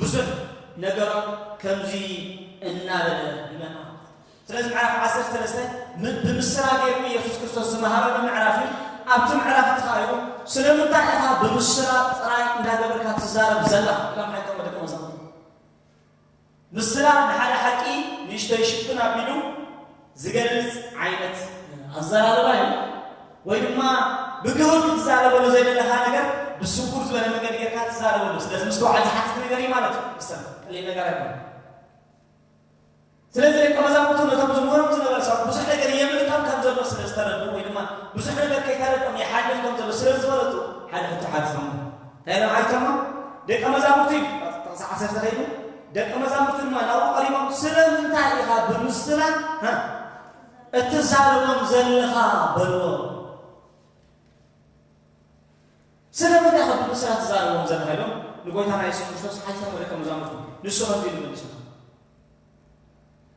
ብዙሕ ነገራት ከምዚ እናበለ ይመጽኣ። ስለዚ ምዕራፍ ዓሰርተ ሰለስተ ብምስላ ገይሩ ኢየሱስ ክርስቶስ ዝመሃረሉ ምዕራፍ እዩ። ኣብቲ ምዕራፍ እቲ ኸኣ ኢሉ ስለምንታይ ኢኻ ብምስላ ጥራይ እንዳገበርካ ትዛረብ ዘላ ኢሎም ሓይቀሞ ደቀ መዛሙርቱ። ምስላ ንሓደ ሓቂ ንእሽተይ ሽፍን ኣቢሉ ዝገልጽ ዓይነት ኣዘራርባ እዩ ወይ ድማ ብግሁድ ክትዛረበሉ ዘይደለኻ ነገር ብስውር ዝበለ መንገዲ ጌርካ ትዛረበሉ ስለዚ ምስትውዓል ዝሓትት ነገር እዩ ማለት እዩ ሰ ቀሊል ነገር ኣይኮነ ስለዚ ደቂ መዛሙርቱ ነቶም ዝምህሮም ዝነበረ ሰባት ብዙሕ ነገር የምልጦም ከም ዘሎ ስለ ዝተረዱ ወይ ድማ ብዙሕ ነገር ከይተረድኦም ይሓልፍ ከም ዘሎ ስለ ዝፈለጡ ሓደ ሕቶ ሓቲቶም እንታይ ንብዓል ከሎ ደቀ መዛሙርቲ እዩ ቁጥሪ ጥቕሲ ዓሰርተ ከይዱ ደቀ መዛሙርቲ ድማ ናብኡ ቀሪቦም ስለምንታይ ኢኻ ብምስላ እትዛረቦም ዘለኻ በልዎ ስለምንታይ ኢኻ ብምስላ እትዛረቦም ዘለኻ ኢሎም ንጎይታና የሱስ ክርስቶስ ሓቲቶም ደቀ መዛሙርቲ ንሱ ከምዚ ኢሉ መልሱ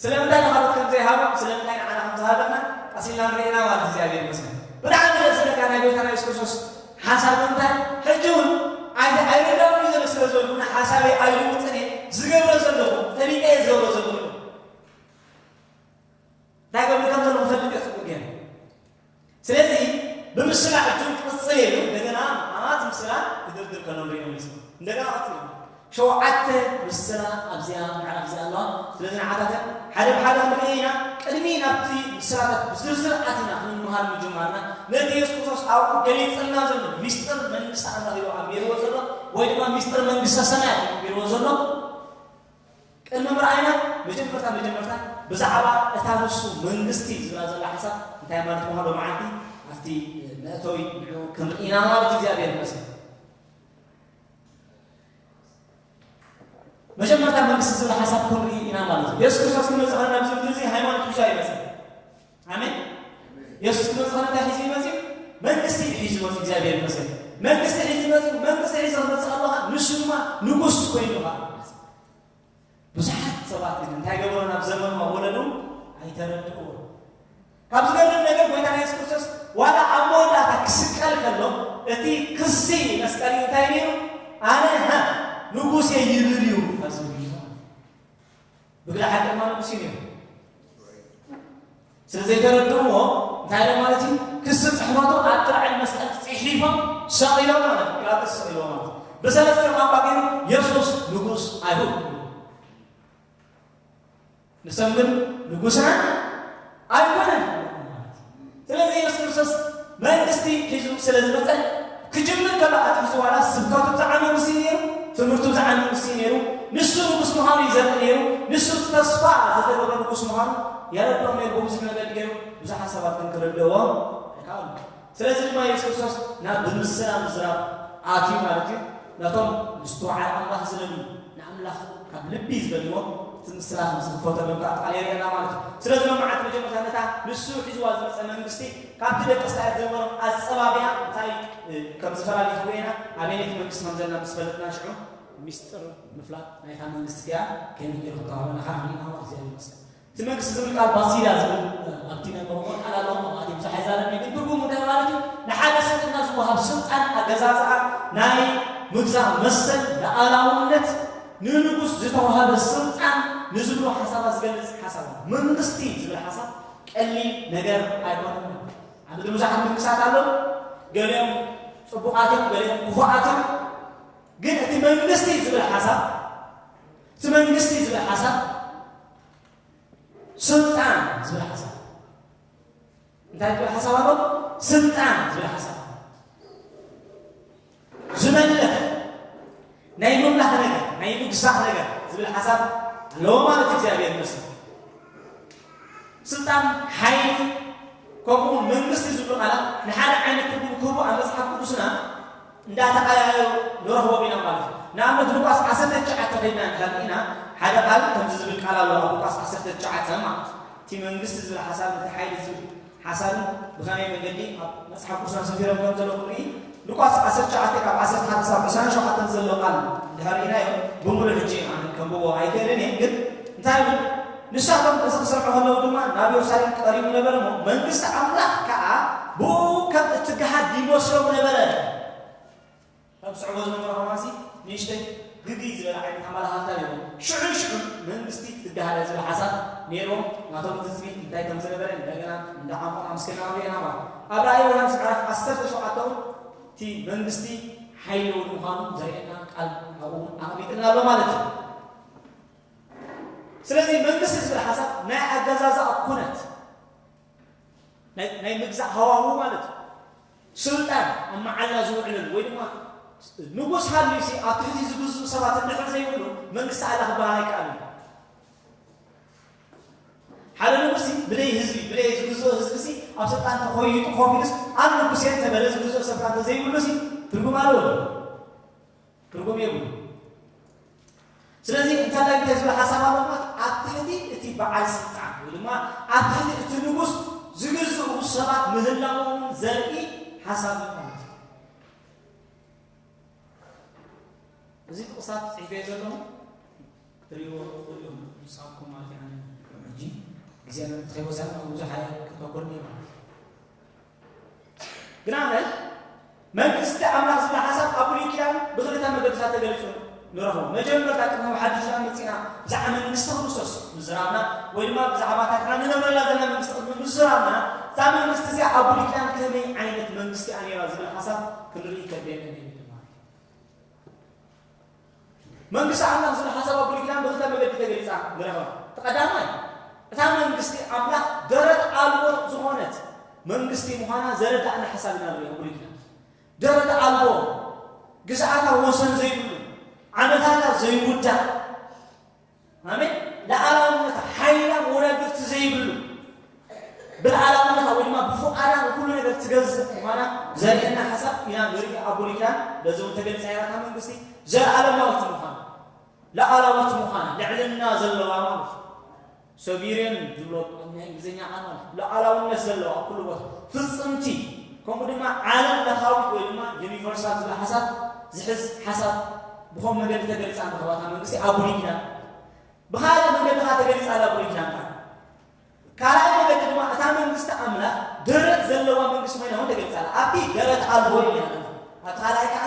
ስለምንታይ ንኻልኦት ከም ዘይሃቦም ስለምንታይ ንዓና ከም ዝሃበና ቀስ ኢልና ንርኢ ኢና ማለት እግዚኣብሔር ይመስገን። ብጣዕሚ ደስ ዝብለካ ናይ ጎይታና የሱስ ክርስቶስ ሓሳብ ብምንታይ ሕጂ እውን ኣይ ኣይርዳኡን እዩ ዘሎ ስለ ዝበልኩ እና ሓሳበይ ኣይልውጥን እየ ዝገብሮ ዘለኹ ፈሊጠ እየ ዝገብሮ ዘለኹ እንታይ ገብር ከም ዘለኹ ፈልጥ እየ ጽቡቅ ገይረ ስለዚ ብምስላ ሕጂ ክቕጽል እየ ኢሉ እንደገና መዓት ምስላ ክድርድር ከሎ ንሪኦ መሊሱ እንደገና ቀጺሉ ሸውዓተ ምስላ ኣብዚኣ ምዕራፍ እዚኣ ኣለዋ ስለዚ ንዓታተን ሓደ ብሓደ ክንርኢ ኢና ቅድሚ ናብቲ ምስላታት ብዝርዝር ኣቲና ክንምሃር ምጅማርና ነቲ የሱስ ክርስቶስ ኣብኡ ገሊጽልና ዘሎ ሚስጥር መንግስቲ ኣምላኽ ኢሉ ኣንቢርዎ ዘሎ ወይ ድማ ሚስጥር መንግስተ ሰማያት ኢሉ ኣንቢርዎ ዘሎ ቅድሚ ምርኣይና መጀመርታ መጀመርታ ብዛዕባ እታ ንሱ መንግስቲ ዝብላ ዘላ ሓሳብ እንታይ ማለት ምዃኑ ሎምዓንቲ ኣብቲ መእተዊ ንዕኡ ክንርኢ ኢና ማለት እዩ እግዚኣብሔር ይመስገን መጀመርታ መንግስቲ ዝብል ሓሳብ ክንርኢ ኢና ማለት እዩ የሱስ ክርስቶስ ክመፅእ ከለና ኣብዚ ምድሪ እዚ ሃይማኖት ብቻ ይመፅእ ኣሜን። የሱስ ክመጽእ ከሎ እንታይ ሒዙ ይመጽእ? መንግስቲ እዩ ሒዙ መጽኡ። እግዚኣብሔር ይመስገን። መንግስቲ ሒዙ መጽኡ። መንግስቲ ሒዙ ክመጽእ ከሎ ኸኣ ንሱ ድማ ንጉስ ኮይኑ ኸኣ መጽእ። ብዙሓት ሰባት ግን እንታይ ገብሮ ናብ ዘመኑ ወለዱ ኣይተረድእዎ። ካብ ዝገርም ነገር ጎይታ ኢየሱስ ክርስቶስ ዋላ ኣብ መወዳእታ ክስቀል ከሎ እቲ ክሲ መስቀል እዩ እንታይ ነይሩ ኣነ ሃ ንጉሴ ይብል እዩ ካብ ዝብል እዩ። ብግደ ሓቂ ድማ ንጉሲም እዮም ስለ ዘይተረድእዎ እንታይ ኢሎም ማለት እዩ ክሲ ፅሕፈቱ ኣብ ጥርዕን መስቀል ፅሒፎም ሰቂሎ ማለት ጲላጦስ ሰቂሎ ማለት ብሰለስተ ቋንቋ ገይሩ የሱስ ንጉስ ኣይሁድ ንሰም ግን ንጉስና ኣይኮነን ማለት እዩ። ስለዚ የሱስ ክርስቶስ መንግስቲ ሒዙ ስለ ዝመጸ ክጅምር ከሎ ኣትሒዙ ዋላ ስብከቱ ብዝዓሚ ምስ እዩ ነይሩ፣ ትምህርቱ ብዝዓሚ ምስ እዩ ነይሩ፣ ንሱ ንጉስ ምዃኑ እዩ ዘርኢ ነይሩ፣ ንሱ እቲ ተስፋ ዝተገብረ ንጉስ ምዃኑ የረድኦም ነይሩ። ብብዙሕ መገዲ ገይሩ ብዙሓት ሰባት ግን ክርድእዎ ኣይከኣሉን። ስለዚ ድማ የሱስ ክርስቶስ ናብ ብምስላ ምዝራብ ኣትዩ ማለት እዩ። ነቶም ምስትውዓል ኣምላኽ ዝደልዩ ንኣምላኽ ካብ ልቢ ዝደልይዎ እቲ ምስላ ከም ዝኽፈተሎም ከኣ ቃል የርእየና ማለት እዩ። ስለዚ ሎምዓንቲ መጀመርታ ነታ ንሱ ሒዝዋ ዝመጸ መንግስቲ ካብቲ ደቂ እስራኤል ዝነበሮም ኣጸባብያ እንታይ ከም ዝፈላለ ክርእየና ኣበየነይቲ መንግስቲ ከም ዘለና ምስ ፈለጥና ሽዑ ሚስጥር ምፍላጥ ናይታ መንግስቲ ከኣ ከመይ ጌሩ ክተባበና ከኣ ንርኢና ማለት እዩ። እግዚኣብሔር ይመስገን ትነግስ ዝብል ቃል ባሲላ ዝብል ኣብቲ ናይ ኦሮሞ ቃል ኣሎ ካብኡ ኣትዩ ብዙሕ ኣይዛረብን ኢዩ ግን ትርጉሙ እንታይ ማለት ኢዩ ንሓደ ስልጥና ዝወሃብ ስልጣን ኣገዛዝኣ ናይ ምግዛእ መሰል ልኣላውነት ንንጉስ ዝተዋህበ ስልጣን ንዝብሉ ሓሳባት ዝገልጽ ሓሳብ ኣሎ መንግስቲ ዝብል ሓሳብ ቀሊል ነገር ኣይኮነን ማለት ኣብ ምድሪ ብዙሓት መንግስታት ኣለዉ ገሊኦም ጽቡቓት እዮም ገሊኦም ክፉኣት እዮም ግን እቲ መንግስቲ ዝብል ሓሳብ እቲ መንግስቲ ዝብል ሓሳብ ስልጣን ዝብል ሓሳብ እንታይ ዝብል ሓሳብ ኣሎ? ስልጣን ዝብል ሓሳብ ዝመልኽ ናይ ምምላኽ ነገር ናይ ምግዛእ ነገር ዝብል ሓሳብ ኣለዎ ማለት እግዚኣብሔር ይመስል ስልጣን ሓይሊ ከምኡ መንግስቲ ዝብሉ ቃላት ንሓደ ዓይነት ትርጉም ክህቡ ኣብ መፅሓፍ ቅዱስና እንዳተቐያየሩ ንረኽቦም ኢና ማለት እዩ። ንኣብነት ሉቃስ ዓሰርተ ትሽዓተ ከይድና እንተሃሊና ሓደ ቃል ከምዚ ዝብል ቃል ኣሎ ኣብ ሉቃስ ዓሰርተ ትሽዓተ ማለት እቲ መንግስቲ ዝብል ሓሳብ እቲ ሓይሊ ዝብል ሓሳብን ብኸመይ መንገዲ ኣብ መጽሓፍ ቅዱስና ሰፊሮም ከም ዘሎ ክንርኢ ሉቃስ ዓሰርተ ትሽዓተ ካብ ዓሰርተ ሓደ ክሳብ ዕስራን ሸውዓተን ዘሎ ቃል እንድሕር ርኢናዮ ብምሉእ ሕጂ ኣነ ከንብቦ ኣይክእልን እየ ግን እንታይ ይብል ንሳቶም እዚ ክሰርዑ ከለዉ ድማ ናብ የሩሳሌም ቀሪቡ ነበረ እሞ፣ መንግስቲ ኣምላኽ ከኣ ብእኡ ከም እትገሃድ ይመስሎም ነበረ። እቶም ዝስዕብዎ ዝነበሩ ከማንሲ ንእሽተይ ግግይ ዝበለ ዓይነት ኣመላኻኽታ ነይርዎም። ሽዑን ሽዑን መንግስቲ ክትገሃደ ዝብል ሓሳብ ነይርዎም። ናቶም ትጽቢት እንታይ ከም ዝነበረ እንደገና እንዳ ዓሞቕና ምስ ከድና ክንርእዮ ኢና እሞ፣ ኣብ ራእይ ዮሃንስ ምዕራፍ ዓሰርተ ሸውዓተ እውን እቲ መንግስቲ ሓይሊ እውን ምዃኑ ዘርእየና ቃል ኣብኡ እውን ኣቐሚጥልና ኣሎ ማለት እዩ። ስለዚ መንግስቲ ዝብል ሓሳብ ናይ ኣገዛዝኣ ኩነት ናይ ናይ ምግዛእ ሃዋህው ማለት እዩ ስልጣን ኣብ መዓላ ዝውዕለሉ ወይ ድማ ንጉስ ሃልዩሲ ኣብ ትሕቲ ዝግዝኡ ሰባት እንድሕር ዘይብሉ መንግስቲ ኣላ ክበሃል ኣይከኣልን ሓደ ንጉሲ ብደይ ህዝቢ ብደይ ዝግዝኦ ህዝቢ ሲ ኣብ ስልጣን ተኮይጡ ኮፊሉስ ኣብ ንጉሴ ተበለ ዝግዝኦ ሰብካ እንተዘይብሉ ሲ ትርጉም ኣለዎ ትርጉም የብሉን። ስለዚ እንተላይ እንታይ ዝብል ሓሳብ ኣሎ ማለት ኣብ ትሕቲ እቲ በዓል ስልጣን ወይ ድማ ኣብ ትሕቲ እቲ ንጉስ ዝግዝኡ ሰባት ምህላዎም ዘርኢ ሓሳብ እዩ ማለት እዩ። እዚ ጥቕሳት ጽሒፈ ዘለኹ ትሪእዎ ትኽእሉ እዮም ንሳብኩም ማለት እዩ ሕጂ ግዜ ከይወሰድና ብዙሕ ኣየ ክተኮልኒ ማለት እዩ ግና ነዚ መንግስቲ ኣምላኽ ዝብል ሓሳብ ኣብ ብሉይ ኪዳን ብኽልተ መገድታት ተገሊጹ ንረኽቦ። መጀመርታ ቅድሚ ኣብ ሓድሽ ኪዳን መጺእና ብዛዕባ መንግስቲ ክርስቶስ ምዝራብና ወይ ድማ ብዛዕባ እታ ንሕና ንነብረላ ዘለና መንግስቲ ቅድሚ ምዝራብና እዛ መንግስቲ እዚኣ ኣብ ብሉይ ኪዳን ከመይ ዓይነት መንግስቲ እያ ነይራ ዝብል ሓሳብ ክንርኢ ከድልየና ነይሩ። መንግስቲ ኣምላኽ ዝብል ሓሳብ ኣብ ብሉይ ኪዳን ብኽልተ መገዲ ተገሊጻ ንረኽባ። እቲ ቀዳማይ እታ መንግስቲ ኣምላኽ ደረት ኣልቦ ዝኾነት መንግስቲ ምዃና ዘረድኣና ሓሳብ ኢና ንርኢ ኣብ ብሉይ ኪዳን። ደረት ኣልቦ፣ ግዝኣታ ወሰን ዘይብሉ፣ ዓመታታ ዘይውዳእ፣ ኣሜን ልኣላውነታ ሓይላ መወዳድርቲ ዘይብሉ ብልኣላውነታ ወይ ድማ ብፉቃዳ ንኩሉ ነገር ትገዝእ ምኳና ዘርእየና ሓሳብ ኢና ንርኢ ኣብ ብሉይ ኪዳን በዚ እውን ተገሊፃ እያ እታ መንግስቲ ዘለኣለማዊት ምኳና ልኣላዊት ምኳና ልዕልና ዘለዋ ማለት ሶቪሬን ዝብሎ ናይ እንግሊዝኛ ቃል ማለት ልኣላውነት ዘለዋ ኣብ ኩሉ ቦታ ፍፅምቲ ከምኡ ድማ ዓለም ለኻዊት ወይ ድማ ዩኒቨርሳል ዝብል ሓሳብ ዝሕዝ ሓሳብ ብኸምኡ መገዲ ተገሊጻ ኣላ እታ መንግስቲ ኣብ ብሉይ ኪዳን። ብኻልእ መገዲ ከኣ ተገሊጻ ኣላ ብሉይ ኪዳን ከኣ። ካልኣይ መገዲ ድማ እታ መንግስቲ ኣምላኽ ደረት ዘለዋ መንግስቲ ኮይና እውን ተገሊጻ ኣላ። ኣብቲ ደረት ኣልቦ ኢና ኣለና። ኣብቲ ካልኣይ ከኣ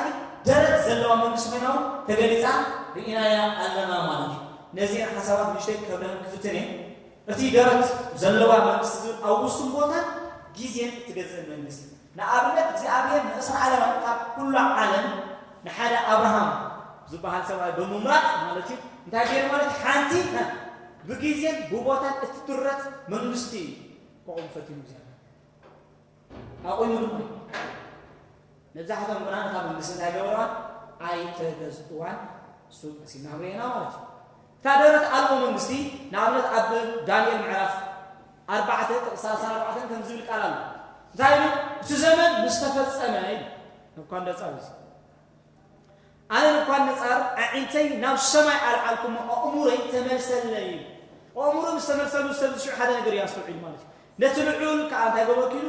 ደረት ዘለዋ መንግስቲ ኮይና እውን ተገሊጻ ርኢናያ ኣለና ማለት እዩ። ነዚኤን ሓሳባት ንእሽተይ ከብርህን ክፍትን እየ። እቲ ደረት ዘለዋ መንግስቲ ዝብል ኣብ ውሱን ቦታን ግዜን እትገዝእ መንግስቲ ንኣብነት እግዚኣብሔር ንእስራኣላውያን ካብ ኩሉ ዓለም ንሓደ ኣብርሃም ዝባሃል ሰብኣይ ብምምራጽ ማለት እዩ እንታይ ገይሩ ማለት እዩ ሓንቲ ብጊዜን ብቦታን እትድረት መንግስቲ እዩ ከቑም ፈቲኑ እግዚኣብሔር ኣቑሙ ድማ እዩ መብዛሕቶም ግና ነታ መንግስቲ እንታይ ገበረዋን ኣይተገዝእዋን እሱ ቀሲምና ክንሪኤና ማለት እዩ እታ ደረት ኣልቦ መንግስቲ ንኣብነት ኣብ ዳንኤል ምዕራፍ ኣርባዕተ ጥቕሲ ሰላሳን ኣርባዕተን ከምዚ ዝብል ቃል ኣሎ። እንታይ ኢሉ? እቲ ዘመን ምስ ተፈጸመ ኢሉ ነቡካድነጻር እዚ ኣነ ነቡካድነጻር ኣዒንተይ ናብ ሰማይ ኣልዓልኩ እሞ ኣእሙረይ ተመልሰለይ ኢሉ። ኣእሙሩ ምስ ተመልሰሉ ሰብ እዚ ሽዑ ሓደ ነገር እዩ ኣስተውዒሉ ማለት እዩ። ነቲ ልዑል ከኣ እንታይ ገበርኩ ኢሉ፣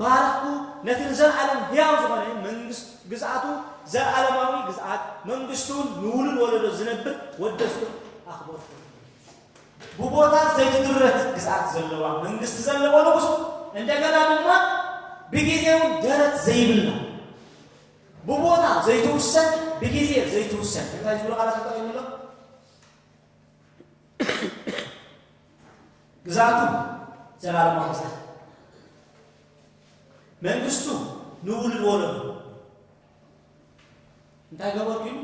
ባረኽኩ፣ ነቲ ንዘለኣለም ህያው ዝኾነ መንግስት ግዝኣቱ፣ ዘለኣለማዊ ግዝኣት መንግስቱን ንውሉድ ወለዶ ዝነብር ወደስኩን ኣኽበርኩን። ብቦታ ዘይትድረት ግዝኣት ዘለዋ መንግስት ዘለዎ ንጉስ፣ እንደገና ድማ ብጊዜውን ደረት ዘይብላ፣ ብቦታ ዘይትውሰን ብጊዜ ዘይትውሰን እንታይ ዝብሉ ቃላት ተጠቒሙ ኣሎ? ግዝኣቱ ዘላለማዊ ግዝኣት መንግስቱ ንውሉድ ወለዱ እንታይ ገበርኩ ኢሉ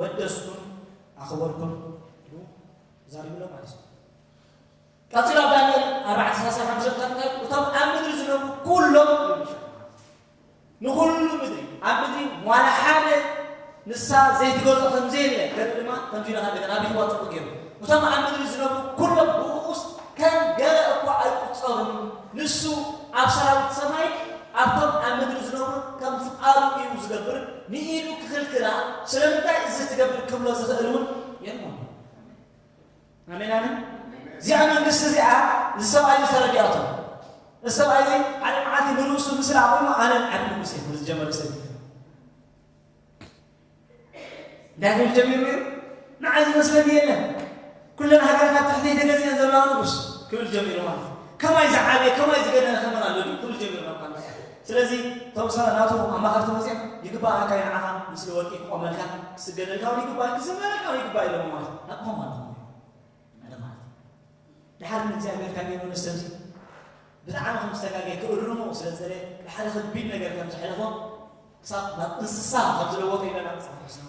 ወደስኩን ኣኸበርኩን ኢሉ ዛሪብሎ ማለት እዩ ቀፂሉ ኣብ ዳንኤል ኣርባዕተ ሰላሳ ሓሙሽተ እንታይ እቶም ኣብ ምድሪ ዝነብሩ ኩሎም ንኹሉ ምድሪ፣ ኣብ ምድሪ ዋላ ሓደ ንሳ ዘይትገዝኦ ከም ዘየለ ገርቢ ድማ ከምዚ ኢሉ ኸኣ ደገና ኣብርህዋ ጽቡቕ ገይሩ። እቶም ኣብ ምድሪ ዝነብሩ ኩሎም ብኡኡስ ከም ገለ እኳ ኣይቁጸሩን፣ ንሱ ኣብ ሰራዊት ሰማይን ኣብቶም ኣብ ምድሪ ዝነብሩን ከም ፍቓዱ እዩ ዝገብር፣ ንኢዱ ክኽልክላ ስለምንታይ እዚ ትገብር ክብሎ ዝኽእል እውን የልቦን። ኣሜን ኣሜን። እዚኣ መንግስቲ እዚኣ እዚ ሰብኣይ እዚ ተረዲኣቶ እዚ ሰብኣይ እዚ ሓደ መዓልቲ ንርእሱ ምስሊ ኣቑሙ ኣነ ዓቢ ንጉስ እየ ክብል ዝጀመረ ሰብ እዩ። እንታይ ክብል ጀሚሩ እዩ? ንዓይ ዝመስለኒ የለን ኩለን ሃገራት ኣብ ትሕተይ ተገዚአን ዘለዋ ንጉስ ክብል ጀሚሩ ማለት እዩ። ከማይ ዝዓበየ ከማይ ዝገነነ ከመን ኣሎ ድዩ ክብል ጀሚሩ ናብ ቃል ስለዚ እቶም ሰ ናቱ ኣማኸርቲ መጺኦም ይግባኣካ'ዩ ንዓኻ ምስሊ ወርቂ ክቆመልካ ክስገደልካውን ይግባእዩ ክዝመረልካውን ይግባእዩ ኢሎሞ ማለት ናትኩም ኣለኹም እንደ ማለት እዩ ድሓር ግን እግዚኣብሔር ካብ የመኑ ሰምሲ ብጣዕሚ ከም ዝተጋገየ ክእርሙ ስለ ዝደለየ ብሓደ ከቢድ ነገር ከም ዘሕለፎ ክሳብ ናብ እንስሳ ከም ዝለወጠ ኢለና መጽሓፍ ቅዱስና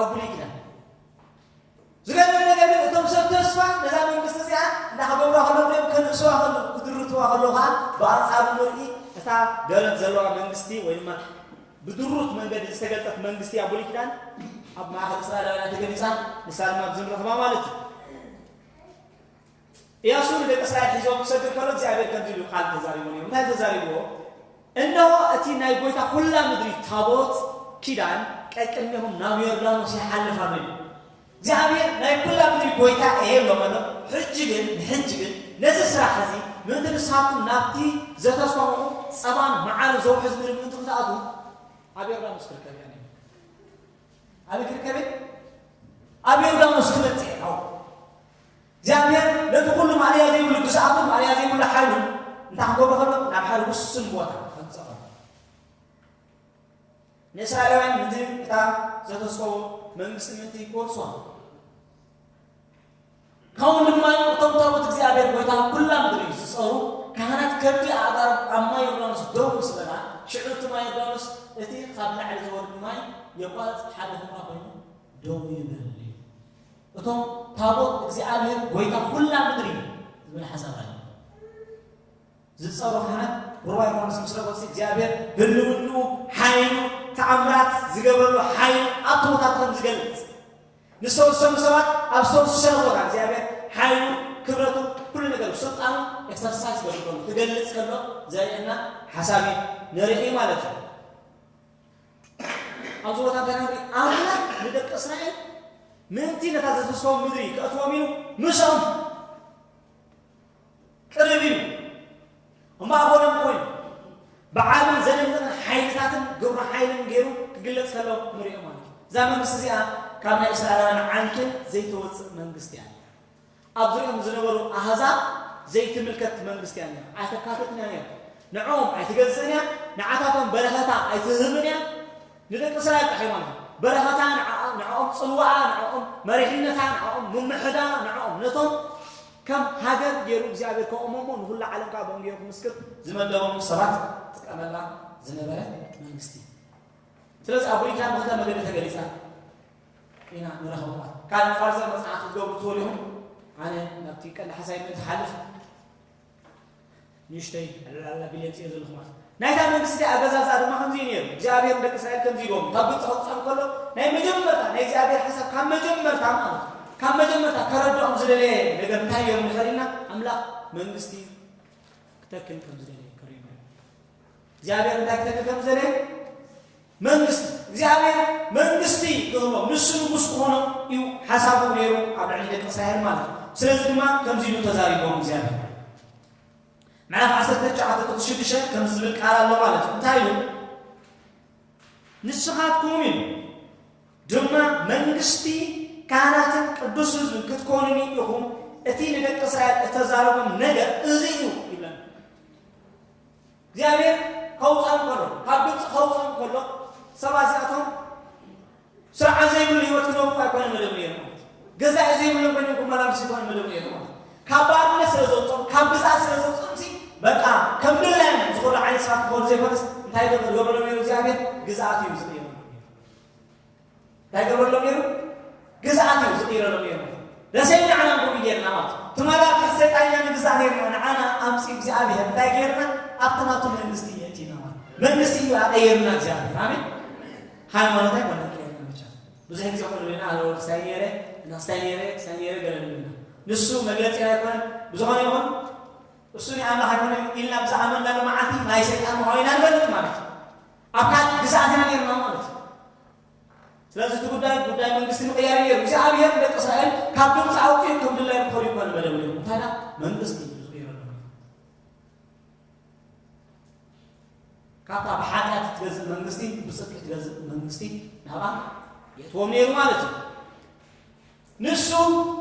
ኣጉሊሕና ዝገርም ነገር ግን እቶም ሰብ ተስፋ ነዛ መንግስቲ እዚኣ እናኸበብዋ ከለዉ እዮም ከንእስዋ ከለዉ ክድርትዋ ከለዉ ከዓ ብኣንጻሩ ንርኢ እታ ደረት ዘለዋ መንግስቲ ወይ ድማ ብድሩት መንገዲ ዝተገልጠት መንግስቲ ኣብ ብሉይ ኪዳን ኣብ ማእኸል እስራኤላውያን ተገሊፃ ንሳ ድማ ኣብዚ ንረኽባ ማለት እዩ እያሱ ንደቂ እስራኤል ሒዞም ክሰግር ከሎ እግዚኣብሄር ከምዚ ኢሉ ቃል ተዛሪቦ ነይሩ። እንታይ ተዛሪብዎ? እነሆ እቲ ናይ ጐይታ ዅላ ምድሪ ታቦት ኪዳን ቀቅድሜኹም ናብ ዮርዳኖስ ይሓልፍ ኣሎ ኢሉ። እግዚኣብሄር ናይ ኵላ ምድሪ ጐይታ እየ ኢሎም ኣሎ። ሕጂ ግን ንሕጂ ግን ነዚ ስራሕ እዚ ምእንቲ ንስኻትኩም ናብቲ ዘተስፋኹኹ ጸባን መዓርን ዘውሕዝ ምድሪ ምእንቲ ክትኣትዉ ኣብ ዮርዳኖስ ክርከብ እየ ነይሩ። ኣበይ ክርከብ እየ? ኣብ ዮርዳኖስ ክበጽሕ እየ። እግዚኣብሄር ነቲ ዅሉ ማእለያ ዘይብሉ ግዝኣቱን ማእለያ ዘይብሉ ሓይሉን እንታይ ኪገብሮ ኸሎ፣ ናብ ሓደ ውሱን ቦታ ኬምጽኦ ኸሎ። ንእስራኤላውያን ነቲ እታ ዘተስፈዎ መንግስቲ ምእንቲ ኪወርሱዋ፣ ከምኡ ድማ እቶም ታቦት እግዚኣብሄር ጐይታ ኵላ ምድሪ እዩ ዚጸሩ ካህናት ከብዲ ኣእጋሮም ኣብ ማይ ዮርዳኖስ ደው ምስ በላ፣ ሽዑ እቲ ማይ ዮርዳኖስ እቲ ኻብ ላዕሊ ዚወርድ ማይ የቋርጽ፣ ሓደ ዅምራ ዀይኑ ደው ይብል። እቶም ታቦት እግዚኣብሔር ጐይታ ዅላ ምድሪ ዝብል ሓሳብ ኣሎ ዝጸሩ ካህናት ሩባ ዮሐንስ ምስ ረገጹ እግዚኣብሔር ህልውንኡ ሓይሉ ተኣምራት ዝገብረሉ ሓይሉ ኣብ ተወታትሮም ዝገልጽ ንዝተወሰኑ ሰባት ኣብ ዝተወሰነ ቦታ እግዚኣብሔር ሓይሉ ክብረቱ ኩሉ ነገር ስልጣኑ ኤክሰርሳይዝ ገብር ከሎ ክገልጽ ከሎ ዘርእየና ሓሳብ እዩ ንርኢ ማለት እዩ ኣብ ዞባታት ደናግሪ ኣምላኽ ንደቂ እስራኤል ምእንቲ ነታ ዘዝስቶም ምድሪ ከእትዎም እዩ ምሳም ቅርብ እዩ እሞ ኣቦናም ኮይኑ ብዓብን ዘደንቅን ሓይልታትን ግብረ ሓይልን ገይሩ ክግለጽ ከሎ ንሪኦ ማለት እዩ እዛ መንግስቲ እዚኣ ካብ ናይ እስራኤላውያን ዓንኬል ዘይተወፅእ መንግስቲ እያ ኣብ ዙርያኦም ዝነበሩ ኣህዛብ ዘይትምልከት መንግስቲ እያ ነይራ፣ ኣይተካትትን እያ ነይራ፣ ንዕኦም ኣይትገዝእን እያ፣ ንዓታቶም በረኸታ ኣይትህብን እያ፣ ንደቂ እስራኤል ጥራይ ማለት እዩ፣ በረኸታ ንዓኣ፣ ንዕኦም ጽልዋኣ፣ ንዕኦም መሪሕነታ፣ ንዕኦም ምምሕዳራ፣ ንዕኦም ነቶም ከም ሃገር ገይሩ እግዚኣብሔር ከቑሞም እሞ ንኹሉ ዓለም ከኣ ብወንጌል ክምስክር ዝመደቦም ሰባት ትጥቀመላ ዝነበረት መንግስቲ እያ። ስለዚ ኣብ ብሉይ ኪዳን ብኽልተ መገዲ ተገሊጻ። ኢና ንረኽበዋ። ካልእ ፋርዘር መጽናዕቲ ክትገብሩ ትኽእሉ ኢኹም። ኣነ ናብቲ ቀንዲ ሓሳይ ምእንቲ ክሓልፍ ንእሽተይ ዕላላ ቢለ ጽየ ዘለኹ ማለት ናይታ መንግስቲ ኣገዛዝኣ ድማ ከምዚ ነይሩ። እግዚኣብሔር ንደቂ እስራኤል ከምዚ ኢልዎም ካብ ግብፂ ከውፅኦም ከሎ ናይ መጀመርታ ናይ እግዚኣብሔር ሓሳብ ካብ መጀመርታ ማለት ካብ መጀመርታ ከረድኦም ዝደለየ ነገር እንታይ እዮም ንኸሪና ኣምላኽ መንግስቲ ክተክል ከም ዝደለየ እግዚኣብሔር እንታይ ክገብር ከም ዝደለየ መንግስቲ እግዚኣብሔር መንግስቲ ክህቦም ንሱ ንጉስ ክኾኖ እዩ ሓሳቡ ነይሩ ኣብ ልዕሊ ደቂ እስራኤል ማለት እዩ ስለዚ ድማ ከምዚ ኢሉ ተዛሪቦም እግዚኣብሔር ምዕራፍ 19 ጥቅስ 6 ከምዚ ዝብል ቃል ኣሎ ማለት እዩ እንታይ ኢሉ ንስኻትኩም እዩ ድማ መንግስቲ ካህናትን ቅዱስ ህዝብን ክትኮኑኒ ኢኹም እቲ ንደቂ እስራኤል እተዛረቦም ነገር እዚ እዩ ይብለን እግዚኣብሔር ከውፅኦም ከሎ ካብ ግብፂ ከውፅኦም ከሎ ሰባት እዚኣቶም ስርዓት ዘይብሉ ህይወት ክነብሩ ኣይኮነን መደብ ነይሩ ማለት ገዛኢ ዘይብሎም ኮይኖም ክመላለሱ ይኮነ መደብ ነይሩ ማለት ካብ ባርነት ስለ ዘውፅኦም ካብ ግዛት ስለ ዘውፅኦም ሲ በቃ ከም ድላዮም ዝኾነ ዓይነት ሰባት ክኾኑ ዘይኮነስ እንታይ ገብ- ገበሎም ነይሩ እግዚኣብሔር ግዝኣት እዩ ዝቕየሩ እንታይ ገብረሎም ነይሩ? ግዝኣት እዩ ዝቕይረሎም ነይሩ። ደሴ ንዓና ንኩሉ ጌርና ማለት እዩ። ትማል ኣብ ትሕቲ ሰይጣን ኢና ንግዛእ ነይርና፣ ንዓና ኣምፂኡ እግዚኣብሔር እንታይ ጌርና? ኣብቲ ናቱ መንግስቲ የእቲና ማለት እዩ። መንግስቲ እዩ ኣቐይርና እግዚኣብሔር። ኣሜን። ሃይማኖት ኣይኮነ ቀይርና ብቻ ብዙሕ ጊዜ ኮነ ና ኣነ ክሳይ ነይረ እና ክሳይ ነይረ ክሳይ ነይረ ገለ ንብልና ንሱ መግለፂ ኣይኮነ ብዝኾነ ይኹን እሱ ናይ ኣምላኽ ኣይኮነ ኢልና ብዛዕባ መናሉ መዓልቲ ናይ ሰይጣን ምዃኑ ኢና ንፈልጥ ማለት እዩ። ኣብ ካልእ ግዝኣት ኢና ኔርና ማለት እዩ። ስለዚ እቲ ጉዳይ ጉዳይ መንግስቲ ምቕያር እዩ ኔሩ። እግዚኣብሄር ንደቂ እስራኤል ካብ ግብጺ ኣውጺኡ ከም ድላዩ ክኾኑ እኳ ንመደቡ ኔሩ። እንታይ ደኣ መንግስቲ ካብታ ብሓጢኣት እትገዝእ መንግስቲ ብፅድቂ እትገዝእ መንግስቲ ናብኣ የእትዎም ነይሩ ማለት እዩ ንሱ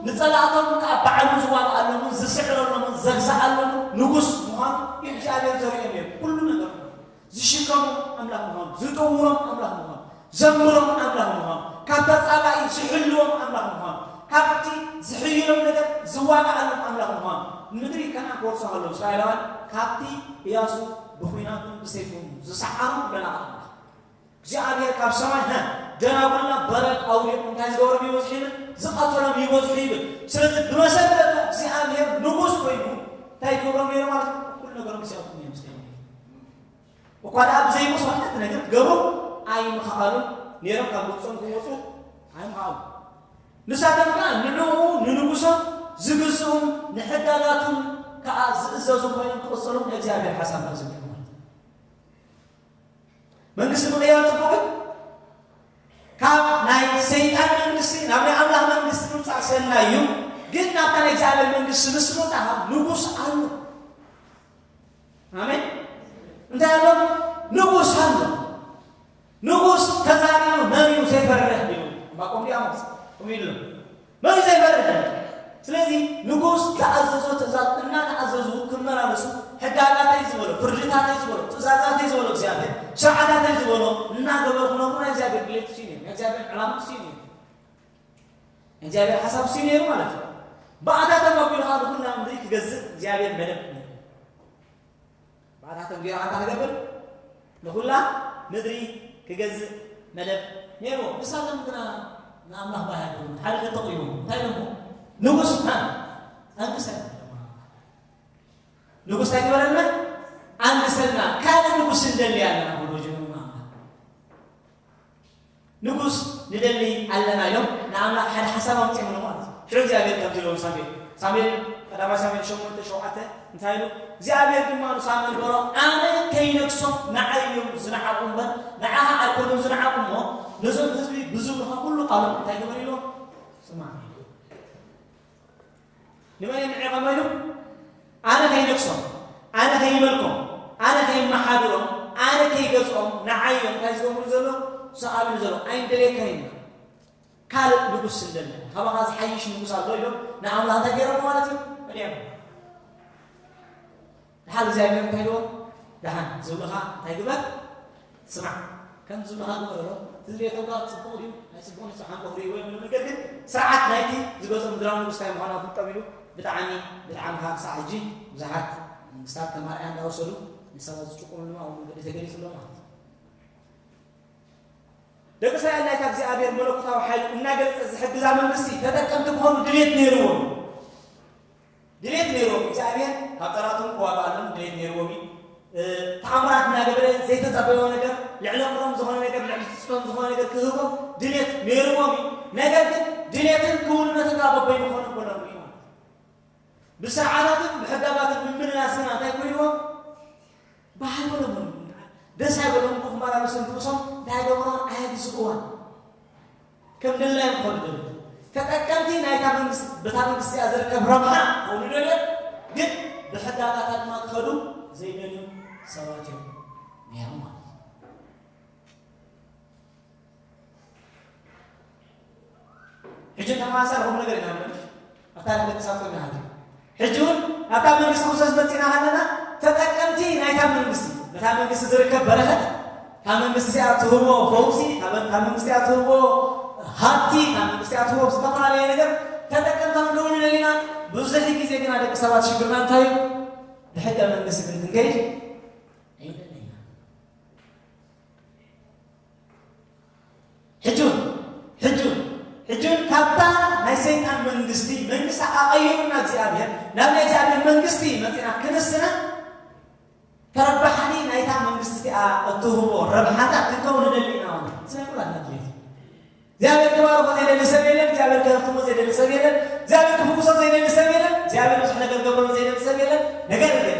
ንጸላእቶም ከኣ ባዕሉ ዝዋግኣሎምን ዝስዕረሎምን ዘግዝኣሎምን ንጉስ ምዃኑ እግዚኣብሔር ዘርእዮም ነይሩ። ኩሉ ነገር ምዃኑ፣ ዝሽከሞም ኣምላኽ ምዃኑ፣ ዝጥውሮም ኣምላኽ ምዃኑ፣ ዘምሮም ኣምላኽ ምዃኑ፣ ካብ ተጻባኢ ዝሕልዎም ኣምላኽ ምዃኑ፣ ካብቲ ዝሕይሎም ነገር ዝዋግኣሎም ኣምላኽ ምዃኑ፣ ንምድሪ ከነኣን ክወርሱ ከለዉ እስራኤላውያን ካብቲ እያሱ ብኲናቱን ብሰይፉን ዝሰዓሮም ለናቕት ኣምላኽ እግዚኣብሔር ካብ ሰማይ ሀ ደናጉልና በረድ ኣውሪዱ እንታይ ዝገበሮም ይበዝሑ ይብል ዝቐተሎም ይበዝሑ ይብል ስለዚ ብመሰረቱ እግዚኣብሔር ንጉስ ኮይኑ እንታይ ይገብሮም ነይሩ ማለት እዩ ኩሉ ነገሮም ይሰብኩም እዮም ዝገ እኳ ደኣ ብዘይሙስ ዋሕት ነገር ክገብሩ ኣይምኸኣሉን ነይሮም ካብ ግብፆም ክወፁ ኣይምኸኣሉ ንሳቶም ከዓ ንዕኡ ንንጉሶም ዝግዝኡን ንሕጋጋቱን ከዓ ዝእዘዙ ኮይኖም ክቕፅሉ ንእግዚኣብሔር ሓሳብ ተዝብሑ መንግስቲ ምቕያር ፅቡቕ እዩ። ካብ ናይ ሰይጣን መንግስቲ ናብ ናይ ኣምላኽ መንግስቲ ምምፃእ ሰናይ እዩ። ግን ናብታ ናይ እግዚኣብሔር መንግስቲ ምስ ምውፃኻ ንጉስ ኣሎ። ኣሜን። እንታይ ኣሎ? ንጉስ ኣሎ። ንጉስ ተዛሪቡ መሪኡ ዘይፈርሕ እዩ። ዕንባቆም ዲያሞስ ከምኡ ኢሉ መሊሱ ኣይፈርድን። ስለዚ ንጉስ ዝኣዘዞ ትእዛዝ እናተኣዘዙ ክመላለሱ ሕጋጋተይ ዝበሎ፣ ፍርድታተይ ዝበሎ፣ ትእዛዛተይ ዝበሎ እግዚኣብሔር፣ ስርዓታተይ ዝበሎ እናገበሩ ክነብሩ ናይ እግዚኣብሔር ድሌት እሱዩ ነይሩ። ናይ እግዚኣብሔር ዕላማ እሱዩ ነይሩ። ናይ እግዚኣብሔር ሓሳብ እሱዩ ነይሩ ማለት እዩ። ብኣታቶም ኣቢሉ ከዓ ንኹላ ምድሪ ክገዝእ እግዚኣብሔር መደብ ነይሩ። ብኣታቶም ገይሩ ኣንታ ክገብር ንኹላ ምድሪ ክገዝእ መደብ ነይሩ። ንሳቶም ግና ንኣምላኽ ባህ ኣይብሉን። ሓደ ከተቕይሙ እንታይ ኢሎሞ ንጉስ ኣንግሰና ንጉስ ኣይግበረልና ኣንግሰና ካልእ ንጉስ እንደሊ ኣለና ብሎ ጀመሩ። ንጉስ ንደሊ ኣለና ኢሎም ንኣምላኽ ሓደ ሓሳብ ኣምጺኦምሉ ማለት እዩ ሽዑ እግዚኣብሔር ከምዚ ኢሎም ሳሙኤል ሳሙኤል ቀዳማይ ሳሙኤል ሸሞንተ ሸውዓተ እንታይ ኢሉ እግዚኣብሔር ድማ ንሳሙኤል በሎ ኣነ ከይነግሶም ንዓይ እዮም ዝነዓቑ እምበር ንዓኻ ኣይኮኑን ዝነዓቑ እሞ ነዞም ህዝቢ ብዝብልኻ ኩሉ ቃሎም እንታይ ግበር ኢሎ ስማዕ ንመን እየ ንዕቐቦ ኢሉ ኣነ ከይነግሶም ኣነ ከይመልኮም ኣነ ከይመሓድሮም ኣነ ከይገዝኦም ንዓይ እዮም እንታይ ዝገብሩ ዘሎ ዝሰኣሉኒ ዘሎ ኣይንደልየካን ኢና ካልእ ንጉስ ስንደለ ካባኻ ዝሓይሽ ንጉስ ኣሎ ኢሎም ንኣምላኽ እንታይ ገይሮም ማለት እዩ እልዮም ደሓር እግዚኣብሔር እንታይ ኢልዎ ደሓን ዝብልኻ እንታይ ግበር ስማዕ ከም ዝብልኻ ግበር ኣሎ እቲ ዝብልዮ ተግባር ፅቡቕ ድዩ ኣይፅቡቕን እዩ ሓንቆ ክርእይዎ እዮም ነገር ግን ስርዓት ናይቲ ዝገዝኦ ምድራዊ ንጉስ እንታይ ምዃኑ ኣፍልጦም ኢሉ ብጣዕሚ ብጣዕሚ ካብ ክሳዕ ሕጂ ብዙሓት መንግስታት ከም ኣርኣያ እንዳወሰዱ ንሰባት ዝጭቁኑ ድማ ኣብ መንገዲ ተገሊፁ ኣሎ ማለት እዩ ደቂ እስራኤል ናይታ እግዚኣብሔር መለኮታዊ ሓይሉ እናገለፀ ዝሕግዛ መንግስቲ ተጠቀምቲ ክኾኑ ድሌት ነይርዎም ድሌት ነይርዎም እግዚኣብሔር ካብ ጠላቶም ክዋግኣሎም ድሌት ነይርዎም እዩ ተኣምራት እናገበረ ዘይተጸበዮ ነገር ልዕሊ ኣቅሮም ዝኾነ ነገር ልዕሊ ትጽቢቶም ዝኾነ ነገር ክህቦ ድሌት ነይርዎም እዩ ነገር ግን ድሌትን ክውንነትን ካብ በበይኑ ክኾኑ ከሎም እዩ ማለት ብስርዓታትን ብሕጋጋትን ምምልላስ ግና እንታይ ኮይንዎም ብሃገሮም እዮም እንድዓል ደስ ኣይበሎም እሞ ክማራ ርእስን ርእሶም እንታይ ኣይገበሮን ኣየግዝእዋን ከም ድላዮም ክኾኑ ደልዩ ተጠቀምቲ ናይታ መንግስቲ በታ መንግስቲ እያ ዝርከብ ረብሓ ክኾኑ ደልዮም ግን ብሕጊ ኣጋታ ድማ ክኸዱ ዘይደልዩ ሰባት እዮም ነይሮም ማለት እዩ። ሕጂ እንተ ማእሰር ኹሉ ነገር ኢና ንመልሽ ኣብ ታሪኽ ደቂ ሰባት ኮይና ሃልዩ ሕጂ እውን ናብታ መንግስቲ ክርስቶስ መጺእና ሃለና ተጠቀምቲ ናይታ መንግስቲ ነታ መንግስቲ ዝርከብ በረኸት ካብ መንግስቲ እዚኣ ትህቦ ፈውሲ ካብ መንግስቲ እያ ትህቦ ሃብቲ ካብ መንግስቲ እያ ትህቦ ዝተፈላለየ ነገር ተጠቀምታ ክንከውን ንደሊና ብዙሕ ግዜ ግና ደቂ ሰባት ሽግርና እንታይ እዩ ብሕገ መንግስቲ ግን ክንከይድ ኣይደለና ሕጁን ሕጁን ሕጁን ካብታ ናይ ሰይጣን መንግስቲ መንግስቲ ኣቐይሩና እግዚኣብሔር ናብ ናይ እግዚኣብሔር መንግስቲ መፂና ክንስና ተረባሕኒ ናይታ መንግስቲ እቲኣ እትህቦ ረብሓታት ክንከውን ንደሊ ኢና ሆነ ስለ ኩላትና ድሌት እግዚኣብሔር ክባርኮ ዘይደሊ ሰብ የለን እግዚኣብሔር ክህፍትሞ ዘይደሊ ሰብ የለን እግዚኣብሔር ክፍውሶ ዘይደሊ ሰብ የለን እግዚኣብሔር ብዙሕ ነገር ገብሮ ዘይደሊ ሰብ የለን ነገር ግን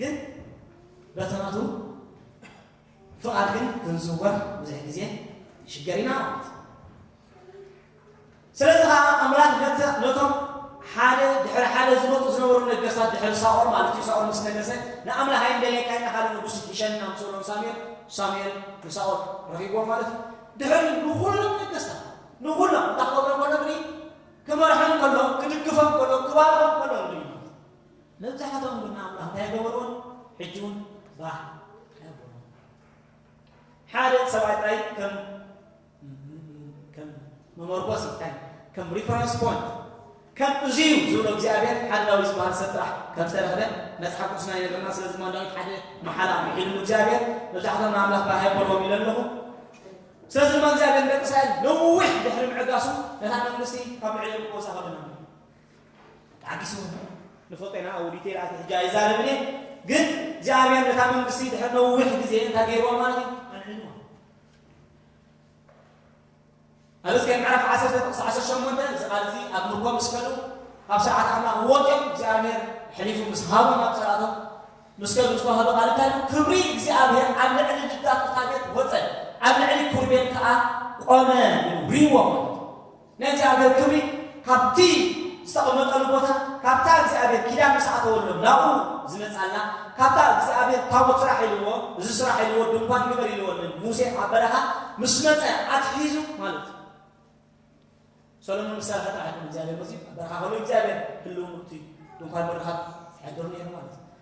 ግን በቲ ናቱ ፍቓድ ግን ክንዝወር ብዙሕ ግዜ ንሽገር ኢና ማለት እዩ። ስለዚ ከዓ ኣምላኽ ነተ- ነቶም ሓደ ድሕሪ ሓደ ዝመፁ ዝነበሩ ነገስታት ድሕሪ ሳኦል ማለት እዩ ሳኦል ምስ ነገሰ ንኣምላኽ ኣይንደልየካ ኢና ካልእ ንጉስ ይሸን ኢና ምስ በሎም ሳሙኤል ሳሙኤል ንሳኦል ረኺብዎ ማለት እዩ ድሕሪ ንኹሎም ነገስታት ንኹሎም እንታይ ክገብሮም ከሎ እንድሪ ክመርሖም ከሎ ክድግፎም ከሎ ክባርኾም ከሎ እንድሪ መብዛሕትኦም ግና እኳ እንታይ ኣይገበርዎን፣ ሕጂ እውን ባህ ኣየብሎምን። ሓደ ሰብኣይ ጥራይ ከም ከም መመርኮሲ እንታይ ከም ሪፈረንስ ፖይንት ከም እዚ እዩ ዝብሎ እግዚኣብሔር ሓደ ዳዊት ዝበሃል ሰብ ጥራሕ ከም ዝተረኽበ መጽሓፍ ቅዱስና ይነግረና። ስለዚ ድማ ዳዊት ሓደ መሓላ ምሒልሉ እግዚኣብሔር መብዛሕትኦም ንኣምላኽ ባህ ኣይበልዎም ኢለ ኣለኹ። ስለዚ ድማ እግዚኣብሔር ንደቂ እስራኤል ነዊሕ ድሕሪ ምዕጋሱ ነታ መንግስቲ ካብ ልዕሊኦም ክወጻ ከለና ተዓጊሱ ንፎቄና ኣውል ይቴል ኣቲ ሕጂ ኣይዛረብን እየ ግን እግዚኣብሔር ነታ መንግስቲ ድሕር ነዊሕ ግዜ እንታይ ገይርዋ ማለት እዩ ኣልዒልዋ ኣብዚ ከ ምዕራፍ ዓሰርተ ጥቕሲ ዓሰርተ ሸሞንተ እዚ ቃል እዚ ኣብ ምርኮ ምስ ከዱ ካብ ስርዓት ኣምላኽ ወፅኦም እግዚኣብሔር ሕሊፉ ምስ ሃቦም ኣብ ፀላቶም ምስ ከዱ ዝተዋህዶ ቃል እንታይ እዩ ክብሪ እግዚኣብሔር ኣብ ልዕሊ ልዳት እታ ቤት ወፀ ኣብ ልዕሊ ኩርቤል ከዓ ቆመ ሪዎ ማለት ነቲ ኣገር ክብሪ ካብቲ ዝተቐመጠሉ ቦታ ካብታ እግዚኣብሔር ኪዳን ምስ ኣተወሎም ናብኡ ዝመጻላ ካብታ እግዚኣብሔር ታቦት ስራሕ ኢልዎ እዚ ስራሕ ኢልዎ ድንኳን ግበር ኢልዎ ንሙሴ ኣብ በረኻ ምስ መጸ ኣትሒዙ ማለት እዩ ሰሎሞን ምስ ሰራሐ ጥራሕ እግዚኣብሔር መፅዩ ኣብ በረኻ ከሎ እግዚኣብሔር ህልው ምእቱ እዩ ድንኳን ምርኻብ ይሕደሩ ነይሩ ማለት እዩ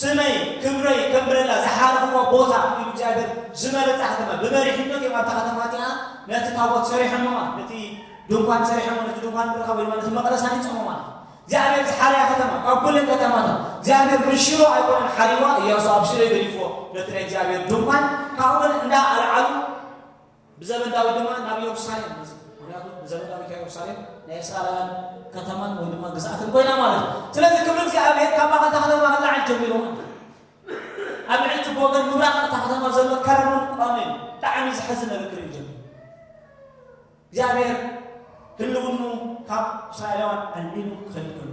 ስመይ ክብረይ ከንብረላ ዝሓረኹዎ ቦታ ኢሉ እግዚኣብሔር ዝመረፃ ከተማ ብመሪሕነት እዮም ኣብታ ከተማ እቲኣ ነቲ ታቦት ሰሪሖሞማ ነቲ ድንኳን ሰሪሖሞ ነቲ ድንኳን ምርካ ወይ ማለት መቅደስ ኣኒፆሞ ማለት እግዚኣብሔር ዝሓርያ ከተማ ካብ ኩለን ከተማታት እግዚኣብሔር ምሽሮ ኣይኮነን ሓሪዋ እያሱ ኣብ ሽረ ገዲፎ ነቲ ናይ እግዚኣብሔር ድንኳን ካብኡ ግን እንዳ ኣልዓሉ ብዘበን ዳዊት ድማ ናብ የሩሳሌም መጽእ ምክንያቱ ብዘበን ዳዊት የሩሳሌም ናይ እስራኤላውያን ከተማን ወይ ድማ ግዝኣትን ኮይና ማለት እዩ ስለዚ ክብሪ እግዚኣብሔር ካብ ማእኸል እታ ከተማ ክለዓል ጀሚሩ ማለት ኣብ ልዕሊ እቲ ብወገን ምብራቕ እታ ከተማ ዘሎ ከረኑን ቋሜን ብጣዕሚ ዝሕዝ ነገር ክርኢ ጀሚሩ እግዚኣብሔር ህልውኑ ካብ እስራኤላውያን ኣልሚኑ ክኸድ ከሎ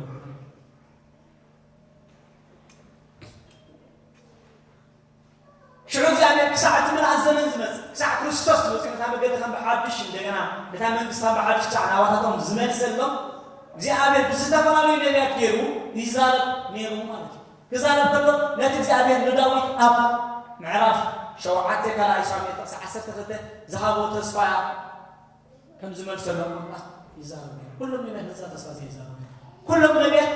ሽዑ እግዚኣብሔር ክሳዕ እቲ ምልኣት ዘመን ዝመጽእ፣ ክሳዕ ክርስቶስ መጺኡ ነታ መገዲ ከም ብሓድሽ እንደገና ነታ መንግስቲ ከም ብሓድሽ ክሳዕ ናባታቶም ዝመልሰሎም እግዚኣብሔር ብዝተፈላለዩ ነቢያት ገይሩ ይዛረብ ነይሩ ማለት እዩ። ክዛረብ ከሎ ነቲ እግዚኣብሔር ንዳዊት ኣብ ምዕራፍ ሸውዓተ ካልኣይ ሳሙኤል ጥቕሲ ዓሰርተ ክልተ ዝሃቦ ተስፋ ከም ዝመልሰሎም ኣምላኽ ይዛረብ ነይሩ። ኩሎም ነቢያት ነዛ ተስፋ እዚ ይዛረቡ ነይሩ። ኩሎም ነቢያት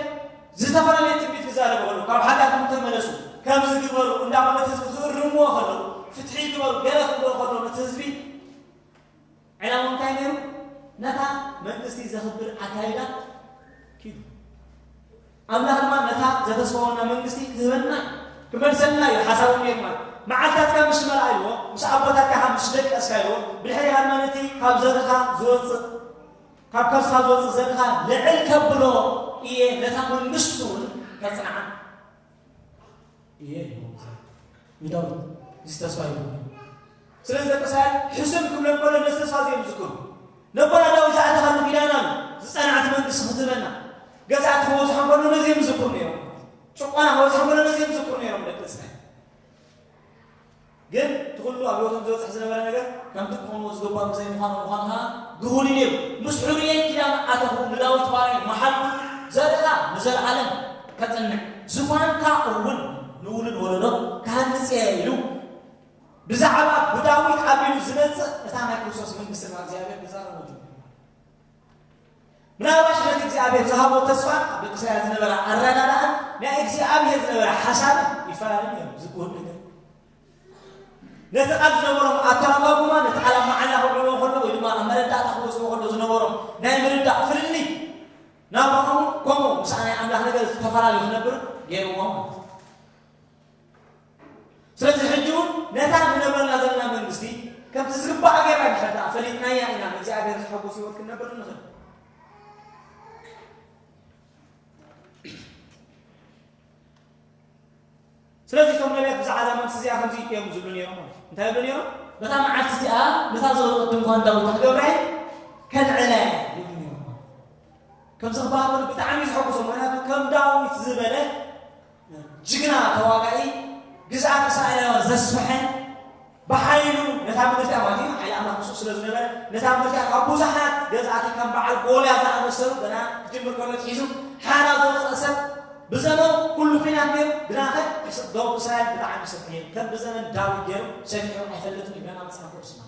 ዝተፈላለየ ትንቢት ክዛረቡ ከለዉ ካብ ሓጢኣቶም ተመለሱ ከምዚ ግበሩ እንዳበሉ ነቲ ህዝቢ ክእርምዎ ከለዉ ፍትሒ ግበሩ ገለ ክብሎ ከለዉ ነቲ ህዝቢ ዕላማ እንታይ ነይሩ? ነታ መንግስቲ ዘኽብር ኣካይዳ ኪዱ ኣምላኽ ድማ ነታ ዘተስፋወና መንግስቲ ክህበና እዩ። ክመልሰልና እዩ ሓሳቡ ነይሩ ማለት እዩ። መዓልታትካ ምስ መርኣይዎ፣ ምስ ኣቦታትካ ካብ ምስ ደቀስካዮ፣ ብድሕሪኻ ድማ ነቲ ካብ ዘርኻ ዝወጽእ ካብ ከርስኻ ዝወጽእ ዘርኻ ልዕል ከብሎ እየ፣ ነታ መንግስቱን ከጽንዓ። እየ ኢልዎም ዝሃብ ንዳዊት እዚ ተስፋ ይብሉ ስለዚ ደቂ እስራኤል ሕሱም ክብሎም ከሎ ነዚ ተስፋ እዚ እዮም ዝዝክሩ ነቦና ዳዊት ዝኣተኻሉ ኪዳን ኣሎ ዝጸንዓት መንግስቲ ክትህበና ገዛእቲ ክወጽሖ ከሎ ነዚ እዮም ዝዝክሩ ነይሮም ጭቆና ክወጽሖ ከሎ ነዚ እዮም ዝዝክሩ ነይሮም ደቂ እስራኤል ግን እቲ ኹሉ ኣብ ህይወቶም ዝበጽሕ ዝነበረ ነገር ከምቲ ክኾንዎ ዝግባእ ብዘይምዃኑ ምዃኑ ኸኣ ግሁድ እዩ ነይሩ። ምስ ሕሩየይ ኪዳን ኣተኹ፣ ንዳዊት ባርያይ መሓልኩ፣ ዘርእኻ ንዘለኣለም ከጽንዕ፣ ዝፋንካ እውን ንውሉድ ወለዶ ክሃንጽ እየ ኢሉ ብዛዕባ ብዳዊት ኣቢሉ ዝመጽእ እታ ናይ ክርስቶስ መንግስቲ ካብ እግዚኣብሔር ክዛረቦ ጀሚሩ። ምናልባሽ ነቲ እግዚኣብሔር ዝሃቦ ተስፋን ኣብ ደቂ ሰያ ዝነበራ ኣረዳዳእን ናይ እግዚኣብሔር ዝነበረ ሓሳብን ይፈላለ ነይሩ ዝግሁድ ነገር ነቲ ቃል ዝነበሮም ኣተረጓጉማ ነቲ ቃል ኣብ መዓላ ክውዕልዎ ከሎ ወይ ድማ ኣብ መረዳእታ ክወስድዎ ከሎ ዝነበሮም ናይ ምርዳእ ፍልልይ ናብኦም ከምኡ ምስ ናይ ኣምላኽ ነገር ዝተፈላለዩ ክነብር ገይርዎም ማለት እዩ ስለዚ ሕጂ እውን ነታ ንነብረላ ዘለና መንግስቲ ከምቲ ዝግባእ ጌርና እንድሕር ደኣ ፈሊጥናያ ኢና ንእግዚኣብሔር ዝሐጉስ ህይወት ክንነብር እንኽእል። ስለዚ እቶም ነቢያት ብዛዕባ እዛ መንግስቲ እዚኣ ከምዚ እዮም ዝብሉ ነይሮም ማለት እዩ። እንታይ ይብሉ ነይሮም? በታ መዓልቲ እዚኣ ነታ ዝወደቐት ድንኳን ዳዊት ክገብራ እየ ከልዕላ እየ ይብሉ ነይሮም። ከምዚ ክበሃል ከሎ ብጣዕሚ እዩ ዘሐጉሶም። ምክንያቱ ከም ዳዊት ዝበለ ጅግና ተዋጋኢ ግዝኣት እስራኤላውያን ዘስፈሐ ብሓይሉ ነታ ምድርቲያ ማለት እዩ ሓይሊ ኣምላኽ ምስኡ ስለ ዝነበረ ነታ ምድርቲያ ካብ ብዙሓት ገዛእቲ ከም በዓል ጎልያ ዝኣመሰሉ ገና ክጅምር ከሎ ትሒዙ ሓራ ዘውፅአ ሰብ ብዘመኑ ኩሉ ኩናት ነይሩ ግናኸ ደቡብ እስራኤል ብጣዕሚ ሰፊሕ ከም ብዘመን ዳዊት ገይሩ ሰፊሑ ኣይፈለጥን እዩ ገና መፅሓፍ ቅዱስና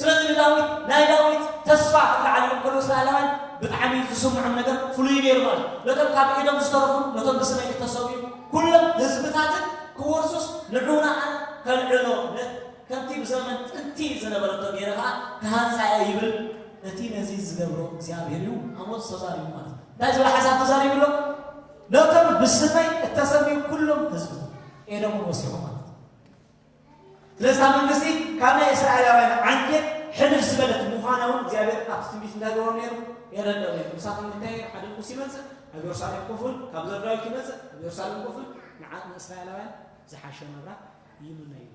ስለዚ ንዳዊት ናይ ዳዊት ተስፋ ክከዓል ኢሎም ከለዉ እስራኤላውያን ብጣዕሚ ዝስምዖም ነገር ፍሉይ ነይሩ ማለት እዩ። ነቶም ካብ ኢዶም ዝተረፉን ነቶም ብስመይ እተሰውኡን ኵሎም ህዝብታትን ክወርሱስ ንዑ ንኣን ከልዕሎ፣ ከምቲ ብዘመን ጥንቲ ዝነበረቶ ገይረ ኸኣ ክሃንጻ እየ ይብል። እቲ ነዚ ዝገብሮ እግዚኣብሄር እዩ፣ ኣሞጽ ተዛሪቡ ማለት እዩ። እንታይ ዝብል ሓሳብ ተዛሪቡ ኣሎ? ነቶም ብስመይ እተሰምዩ ኵሎም ህዝብታት፣ ኤዶምውን ወሲኹ ማለት እዩ። ስለዚ እታ መንግስቲ ካብ ናይ እስራኤላውያን ዓንኬል ሕንፍ ዝበለት ምዃና እውን እግዚኣብሄር ኣብቲ ትንቢት እንታይ ገበሮም ነይሩ? የረድኦም ነይሩ። ምሳኹም እንታይ ይብል? ሓደ ንጉስ ይመጽእ፣ ኣብ የሩሳሌም ኮፍ ኢሉ፣ ካብ ዘር ዳዊት ይመጽእ፣ ኣብ የሩሳሌም ኮፍ ኢሉ፣ ንዓቕሚ እስራኤላውያን ዝሓሸ ናብራ ይምነ እዩ።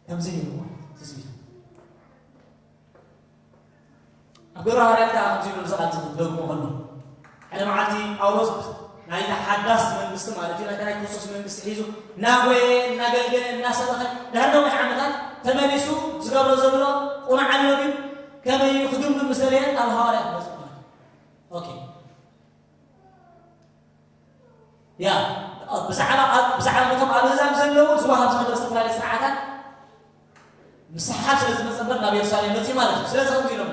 ከምዚ ነይሩ ማለት ትጽቢቱ ኣብ ግብረ ሃዋርያት ከኣ ከምዚ ኢሉ ንሰባት ዝደግሞ ከሎ ሓደ መዓልቲ ጳውሎስ ናይታ ሓዳስ መንግስቲ ማለት እዩ ናይታ ናይ ክርስቶስ መንግስቲ ሒዙ እናጎየ እናገልገለ እናሰበኸ ድሕሪ ነዊሕ ዓመታት ተመሊሱ ዝገብሮ ዘሎ ቁኑዕ ኣሎ ድዩ ከመይ እዩ ክግምግም ምስ ደለየ ኣብ ሃዋርያት በፅሑ ማለት እዩ ኦኬ ያ ብዛዕባ ኣብ ብዛዕባ ነቶም ኣብ ኣህዛብ ዘለዉ ዝወሃብ ዝነበረ ዝተፈላለየ ስርዓታት ምስሕሓብ ስለ ዝመጸ እምበር ናብ የሩሳሌም መጺኡ ማለት እዩ። ስለዚ ከምዚ ኢሎሞ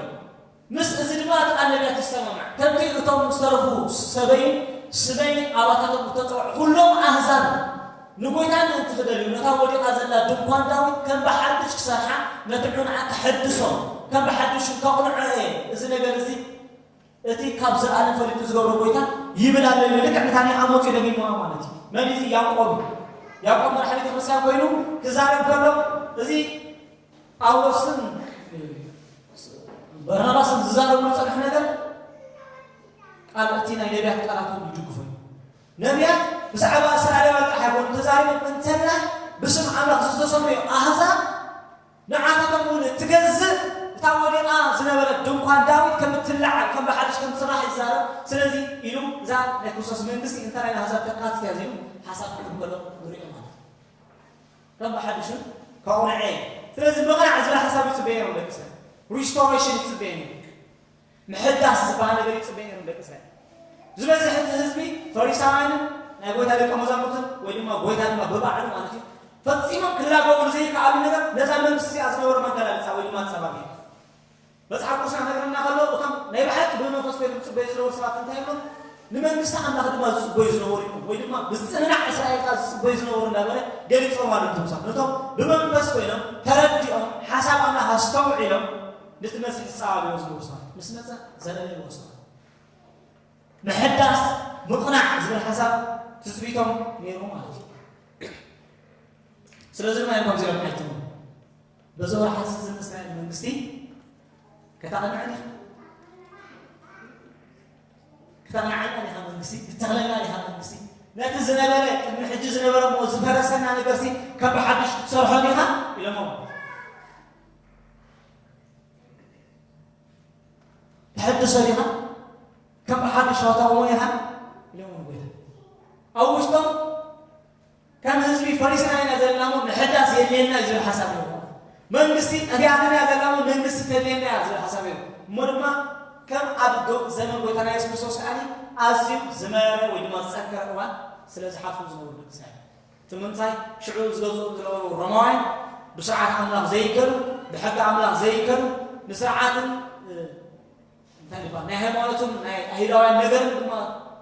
ምስ እዚ ድማ እቲ ቃል ነቢያት ይሰማማዕ ከምቲ እቶም ዝተረፉ ሰበይን ስመይ ኣባታቶም እተጸውዑ ዅሎም ኣህዛብ ንጐይታ ምእንቲ ኽደልዩ ነታ ወዲቓ ዘላ ድንኳን ዳዊት ከም ብሓድሽ ክሰርሓ ነቲ ዑንዓ ከሐድሶ ከም ብሓድሽ እውን ከቕንዖ እየ እዚ ነገር እዚ እቲ ካብ ዝኣለም ፈሊጡ ዝገብሮ ጎይታ ይብል ኣሎ ኢሉ ልክዕ ነታ ናይ ኣሞጽ እዩ ደጊምዋ ማለት እዩ። መን እዩ እዚ ያቆብ እዩ። ያቆብ መራሒ ቤተ ክርስትያን ኮይኑ ክዛረብ ከሎ እዚ ጳውሎስን በርናባስን ዝዛረብሉ ዝጸንሐ ነገር ቃል እቲ ናይ ነቢያት ቃላት እውን ይድግፎ እዩ። ነቢያት ብዛዕባ እስራኤላውያን ጥራሕ ኣይኮኑ ተዛሪቦም እንተላይ ብስም ኣምላኽ ዝተሰምዩ ኣህዛብ ንዓታቶም እውን እትገዝእ እታ ወዲቓ ዝነበረት ድንኳን ዳዊት ከም እትለዓል፣ ከም ብሓድሽ ከም እትስራሕ ይዛረብ። ስለዚ ኢሉ እዛ ናይ ክርስቶስ መንግስቲ እንተ ናይ ኣህዛብ ተካእትት እያ ዚሉ ሓሳብ ክህብ ከሎ ንርእዮ ማለት እዩ። ከም ብሓድሹ ከቝንዐ እዩ። ስለዚ ምቕናዕ ዚብል ሓሳብ ይጽበ ነይሮም ደቂ እስራኤል። Restoration ይጽበ ነይሩ። ምሕዳስ ዝበሃል ነገር ይጽበ ነይሩ ንደቂ እስራኤል። ዝበዝሕ እቲ ህዝቢ ፈሪሳውያንን ናይ ጎይታ ደቀ መዛሙርትን ወይ ድማ ጎይታ ድማ ብባዕሉ ማለት እዩ ፈጺሞም ክላገቡሉ ዘይከኣሉ ነገር ነዛ መንግስቲ እዚኣ ዝነበሮም ኣገላልጻ ወይ ድማ ኣጸባቢ መጽሓፍ ቅዱስና ነገርና ከሎ እቶም ናይ ብሓቂ ብመንፈስ ኮይኖም ዝጽበዩ ዝነበሩ ሰባት እንታይ ይብሎም ንመንግስቲ ኣምላኽ ድማ ዝጽበዩ ዝነበሩ እዮም ወይ ድማ ብዝጽንናዕ እስራኤል ከ ዝጽበዩ ዝነበሩ እንዳበለ ገሊጾም ኣሉ እቶም ሰባት ነቶም ብመንፈስ ኮይኖም ተረዲኦም ሓሳብ ኣምላኽ ኣስተውዒሎም ነቲ መሲሕ ዝጻባበዮ ዝነበሩ ሰባት ምስ መጸ ዘረነንዎ ሰባት ምሕዳስ ምቕናዕ ዝብል ሓሳብ ትጽቢቶም ነይሩ ማለት እዩ ስለዚ ድማ እዮም ከምዚኦም ሓይትሙ በዚ ወርሓት እዚ ዝምስናይ መንግስቲ ከተቕንዐኒ ከተቕንዓልና ዲኻ መንግስቲ ክትተኽለና ዲኻ መንግስቲ ነቲ ዝነበረ ቅድሚ ሕጂ ዝነበረ እሞ ዝፈረሰና ነገርሲ ካብ ብሓድሽ ክትሰርሖ ዲኻ ኢሎሞ ተሐድሶ ዲኻ ከም ሓድሽ ዋታውሞ ኢኻ ኢሎም ጎይታ ኣብ ውሽጦም ከም ህዝቢ ፈሪስና ኢና ዘለናሞ ምሕዳስ የድልየና እዩ ዝብል ሓሳብ እዮም መንግስቲ ጠፊኣትና እያ ዘላሞ መንግስቲ ተድልየና እያ ዝብል ሓሳብ እዮም እሞ ድማ ከም ኣብ ዘመን ጎይታና የሱስ ክርስቶስ ከዓኒ ኣዝዩ ዝመረረ ወይ ድማ ዝፀንከረ እዋን ስለ ዝሓልፉ ዝነበሩ ደቂ እቲ ምንታይ ሽዑ ዝገዝኡ ዝነበሩ ሮማውያን ብስርዓት ኣምላኽ ዘይከዱ ብሕጊ ኣምላኽ ዘይከዱ ንስርዓትን እንታይ ይባል ናይ ሃይማኖትን ናይ ኣይሁዳውያን ነገርን ድማ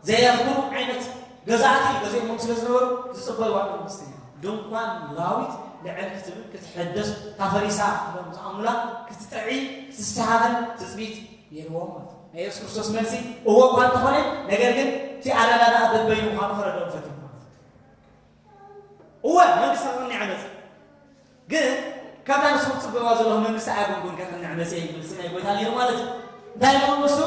ዘየኽብሩ ዓይነት ገዛእቲ ገዚኦሞም ስለ ዝነበሩ ዝፅበይዋ መንግስቲ ድንኳን ላዊት ልዕል ክትብል ክትሕደስ ታፈሪሳ ኢሎም ዝኣምኑላ ክትጥዒ ክትስተሃበን ትፅቢት ነይርዎም ማለት እዩ ናይ የሱስ ክርስቶስ መልሲ እዎ እኳ እንተኾነ ነገር ግን እቲ ኣረዳድኣ በበይኑ ምዃኑ ክረድኦም ፈትዮም ማለት እዩ እወ መንግስቲ ክቕንዕ መፀ ግን ካብታ ንሱ ክፅበዋ ዘለዎ መንግስቲ ኣያጉልጉን ከቕንዕ መፀ እዩ መልሲ ናይ ጎይታ ነይሩ ማለት እዩ እንታይ ኢሎም ንሱ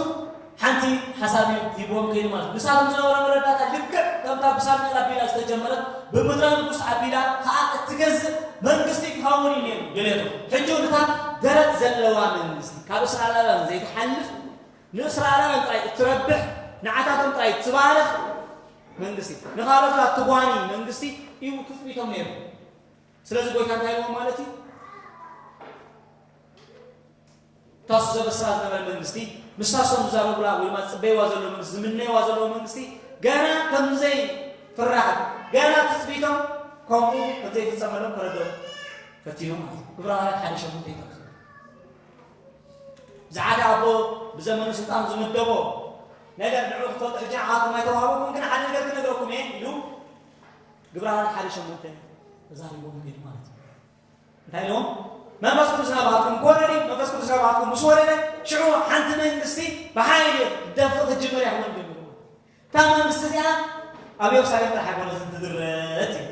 ሓንቲ ሓሳብ እዩ ሂብዎም ከይኑ ማለት እዩ ንሳቶም ዝነበረ መረዳእታ ልክዕ ከምታ ብሳሙኤል ኣቢላ ዝተጀመረት ብምድረ ንጉስ ኣቢላ ከዓ እትገዝእ መንግስቲ ክኸውን እዩ ነይሩ ድሌቱ ሕጂ እውን እታ ደረት ዘለዋ መንግስቲ ካብ እስራኤላውያን ዘይትሓልፍ ንእስራኤላውያን ጥራይ እትረብሕ ንዓታቶም ጥራይ እትባርኽ መንግስቲ ንኻልኦት ከኣ ትጓኒ መንግስቲ እዩ ትጽቢቶም ነይሩ። ስለዚ ጎይታ እንታይ ኢልዎም ማለት እዩ? እታ እሱ ዘበስራ ዝነበረ መንግስቲ ምስታ እሶም ዝዛረቡላ ወይ ድማ ዝጽበይዋ ዘሎ መንግስቲ ዝምነይዋ ዘለዎ መንግስቲ ገና ከምዘይ ፍራሕት ገና ትጽቢቶም ከምኡ ከምዘይፍጸመሎም ክረድኦም ፈቲኖም ማለት እዩ። ዕብራውያን ሓደ ሸሞንተ ይጠቅሱ እዚ ሓደ ኣቦ ብዘመኑ ስልጣኑ ዝምደቦ ነገር ንዑ ክትፈልጡ ሕጂ ንዓኹም ኣይተዋህበኩም ግን ሓደ ነገር ክነግረኩም እየ ኢሉ ግብራውያን ሓደ ሸሞንተ ተዛሪቦም ሄዱ ማለት እዩ እንታይ ኢሎም መንፈስ ቅዱስ ናባትኩም ክወረድ እዩ መንፈስ ቅዱስ ናባትኩም ምስ ወረደ ሽዑ ሓንቲ መንግስቲ ብሓይሊ ደፍእ ክትጅምር እያ ክብሎም ጀሚሩ እታ መንግስቲ እቲኣ ኣብ የሩሳሌም ጥራሕ ኣይኮነትን ትድረት እዩ።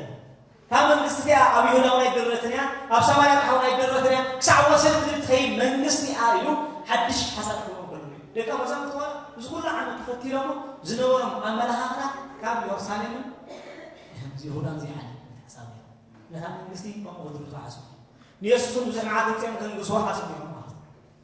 እታ መንግስቲ እቲኣ ኣብ ይሁዳ እውን ኣይድረትን እያ፣ ኣብ ሰማርያ ጥራሕ እውን ኣይድረትን እያ፣ ክሳዕ ወሰን ምድሪ እትኸይድ መንግስቲ እያ ኢሉ ሓድሽ ሓሳብ ክህቦም ከሎ እዩ። ደቀ መዛሙርቱ ዋላ እዚ ኩሉ ዓመት ተኸቲሎሞ ዝነበሮም ኣመለኻኽታ ካብ የሩሳሌምን ይሁዳን ዘይሓልፍ ሓሳብ ነይሩ። ነታ መንግስቲ ከምኡ ክድርቱ ሓሰቡ። ንየሱስ እውን ብዙሕ መዓልቲ ወጺኦም ከንግስዎ ሓሰቡ እዮም ማለት እዩ።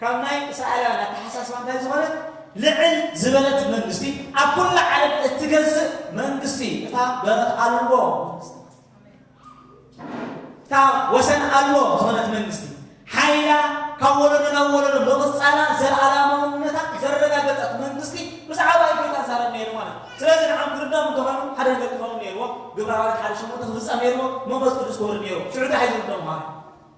ካብ ናይ እስራኤላውያን ኣተሓሳስባ እንታይ ዝኾነት ልዕል ዝበለት መንግስቲ ኣብ ኩላ ዓለም እትገዝእ መንግስቲ እታ በረት ኣልቦ እታ ወሰን ኣልቦ ዝኾነት መንግስቲ ሓይላ ካብ ወለዶ ናብ ወለዶ ምቕፃላ ዘለኣላማውነታ ዘረጋገፀት መንግስቲ ብዛዕባ ኢትዮጵያ ዛረብ ነይሩ ማለት እዩ። ስለዚ ንዓም ክርዳም እንተኾኑ ሓደ ነገር ክኾኑ ነይርዎ ግብረ ሃዋርያት ሓደ ሸሞንተ ክፍፀም ነይርዎ መንፈስ ቅዱስ ክወርድ ነይርዎ ሽዑ እንታይ ሒዞም ደሞ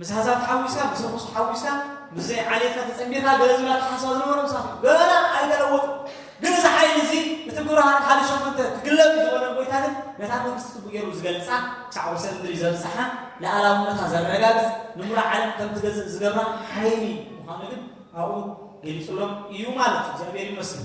ምስ ሃሳብ ተሓዊስካ ምስ ርኹስ ተሓዊስካ ምስ ዘይዓሌትካ ተጸንቢርካ ገለ ዝብል ኣተሓሳስባ ዝነበሮ ምሳት እዩ ገና ኣይተለወጡ ግን እዚ ሓይሊ እዚ እቲ ብርሃን ሓደ ሸምንተ ክግለብ ዝበለ ጎይታ ግን ነታ መንግስቲ ጽቡቅ ገይሩ ዝገልጻ ክሳዕ ወሰን ምድሪ ዘብጽሓ ልኣላውነታ ዘረጋግጽ ንሙሉ ዓለም ከም ትገዝእ ዝገብራ ሓይሊ ምዃኑ ግን ኣብኡ ገሊጹሎም እዩ ማለት እዩ እግዚኣብሔር ይመስል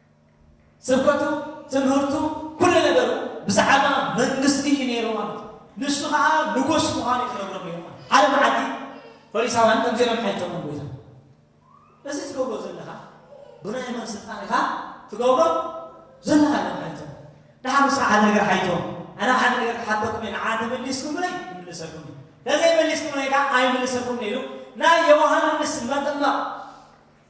ስብከቱ ትምህርቱ ኩሉ ነገሩ ብዛዕባ መንግስቲ እዩ ነይሩ ማለት እዩ። ንሱ ከኣ ንጉስ ምዃኑ እዩ ዝነግሮም ነይሩ ማለት እዩ። ሓደ መዓልቲ ፈሪሳውያን ከምዚ ኢሎም ሓቲቶምዎ ጎይታ እዚ ትገብሮ ዘለኻ ብናይ መን ስልጣን ኢኻ ትገብሮ ዘለኻ ኢሎም ሓቲቶም ድሓር ንስኻ ሓደ ነገር ሓይቶም ኣነ ሓደ ነገር ክሓተኩም እየ ንዓ ተመሊስኩምለይ ይምልሰኩም እዩ ተዘይመሊስኩምለይ ከዓ ኣይምልሰኩም ኢሉ ናይ ዮሃንስ መጥምቕ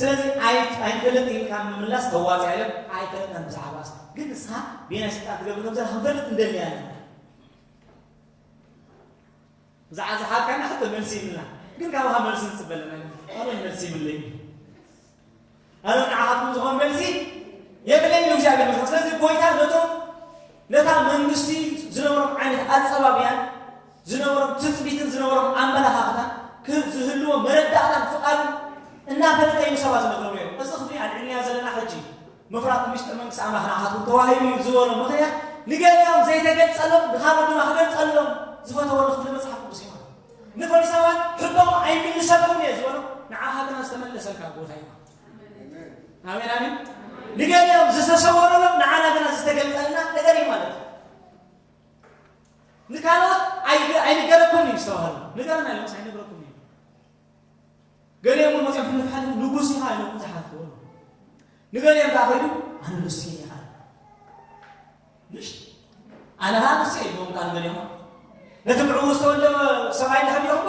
ስለዚ ኣይት ኣይንፈልጥ ኢልካ ምምላስ ኣዋጺ ኣዮም ኣይፈልጥናን ብዛዕባስ ግን ንስኻ ቤናይ ስልጣን ትገብር ከምዘላ ክንፈልጥ እንደሊ ኣለና ብዛዕባ ዝሓልካና ሕቶ መልሲ ይብልና ግን ካብኻ መልሲ ንጽበ ኣለና ኣበን መልሲ ይብለይ ኣነ ንዓኻትኩም ዝኾን መልሲ የብለይ ኢሉ እግዚኣብሔር መስሎ ስለዚ ጎይታ ነቶም ነታ መንግስቲ ዝነበሮም ዓይነት ኣጸባብያን ዝነበሮም ትጽቢትን ዝነበሮም ኣመለኻኽታን ክህብ ዝህልዎ መረዳእታን ፍቓድን እናፈለጠ እዩ ንሰባት ዝነግሮም ነይሩ። እዚ ክፍሊ ኣልዒልናዮ ዘለና ሕጂ ምፍራቱ ምስጢር መንግስቲ ኣምላኽ ንዓኻትኩም ተዋሂቡ እዩ ዝበሎ ምኽንያት ንገሊኦም ዘይተገልጸሎም ንኻልኦት ድማ ክገልጸሎም ዝፈተወሉ ክፍሊ መጽሓፍ ቅዱስ እዩ ማለት እዩ። ንፈሪሳውያን ሕቶኦም ኣይምልሰልኩምን እየ ዝበሎም ንዓኻ ግና ዝተመለሰልካ ቦታ እዩ ማለት እዩ። ኣሜን ኣሜን። ንገሊኦም ዝተሰወረሎም ንዓና ግና ዝተገልጸልና ነገር እዩ ማለት እዩ። ንካልኦት ኣይንገረኩምን እዩ ዝተባሃሉ ንገረና ኢሎምስ ኣይነግረኩም እዩ ገሊኦም እውን መፅኦም ንፍሓት ንጉስ ኢኻ ኢሎም ዝሓትዎ ንገሊኦም ከዓ ከይዱ ኣነ ንሱ እየ ይሃል ምሽ ኣነ ሃ ንሱ እየ ኢሎም ከዓ ንገሊኦም ነቲ ብዕኡ ዝተወልደ ሰብኣይ እንዳ ሃዲኦሞ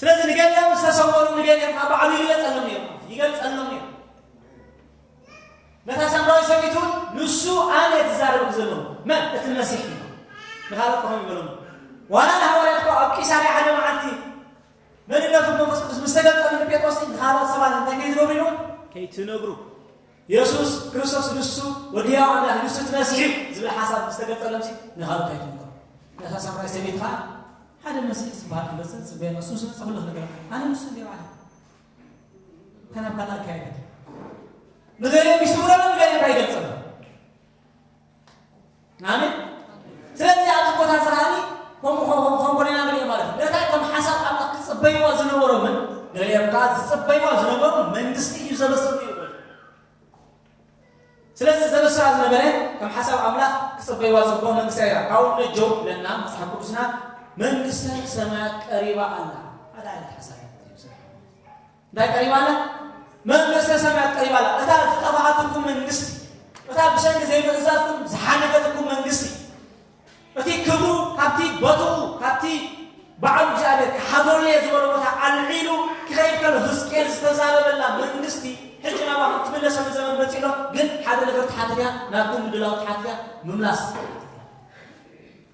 ስለዚ ንገሊኦም ዝተሰወሩ ንገሊኦም ካብ ባዕሉ ይገልጸሎም ነይሩ ይገልጸሎም ነይሩ ነታ ሳምራዊ ሰበይቲ እውን ንሱ ኣነ ትዛረብ ዘሎ መን እቲ መሲሕ እዩ ንካልኦት ከሆን ይበሎም ዋላ ንሃዋርያት እኮ ኣብ ቂሳርያ ሓደ መዓልቲ መንነቱ መንፈስ ቅዱስ ምስ ተገልጠሉ ንጴጥሮስ ንካልኦት ሰባት እንታይ ከይትነብሩ ኢሉ ከይትነብሩ የሱስ ክርስቶስ ንሱ ወዲ ያው ኣምላኽ ንሱ እቲ መሲሕ እዩ ዝብል ሓሳብ ምስ ተገልጠሎም ንካልኦት ኣይትንገሩ ነታ ሳምራዊ ሰበይቲ ከዓ ሓደ መሲሕ ዝባሃል ክመጽእ ንጽበዮ ኣለና እሱ ምስ መጸ ኩሉ ክንገረካ ኣነ ንሱ እንድየ ባዕለይ እታ ናብ ካልእ ኣካየደት ንገሊኦም ይስውረሎም ንገሊኦም ካ ይገልጸሎም ኣሜን ስለዚ ኣብዚ ቦታ እዚ ከዓኒ ከምኡ ከምኡ ከምኡ ኮነ ኢና ንሪኦ ማለት እዩ ነታ ከም ሓሳብ ኣምላኽ ክጽበይዋ ዝነበሮምን ገሊኦም ከዓ ዝጽበይዋ ዝነበሩ መንግስቲ እዩ ዘበሰሉ ይብል ስለዚ ዘበስራ ዝነበረ ከም ሓሳብ ኣምላኽ ክጽበይዋ ዝግብኦ መንግስቲ ኣያ። ካብኡ ንጀው ክብለና መጽሓፍ ቅዱስና መንግስተ ሰማያት ቀሪባ ኣላ ሓደ ዓይነት ሓሳብ እንታይ ቀሪባ ኣላ? መንግስተ ሰማያት ቀሪባ ኣላ። እታ ዝጠፋኣትኩም መንግስቲ፣ እታ ብሰንኪ ዘይምእዛዝኩም ዝሓለፈትኩም መንግስቲ እቲ ክብሩ ካብቲ ቦትኡ ካብቲ ባዕሉ እግዚኣብሔር ክሓድረሉ እየ ዝበሎ ቦታ ኣልዒሉ ክኸይድ ከሎ ህዝቅኤል ዝተዛረበላ መንግስቲ ሕጂ ናባኹም ትምለሰሉ ዘመን መጺኡ ኣሎ ግን ሓደ ነገር ትሓትት እያ ናትኩም ምድላው ትሓትት እያ ምምላስ ትሓትት እያ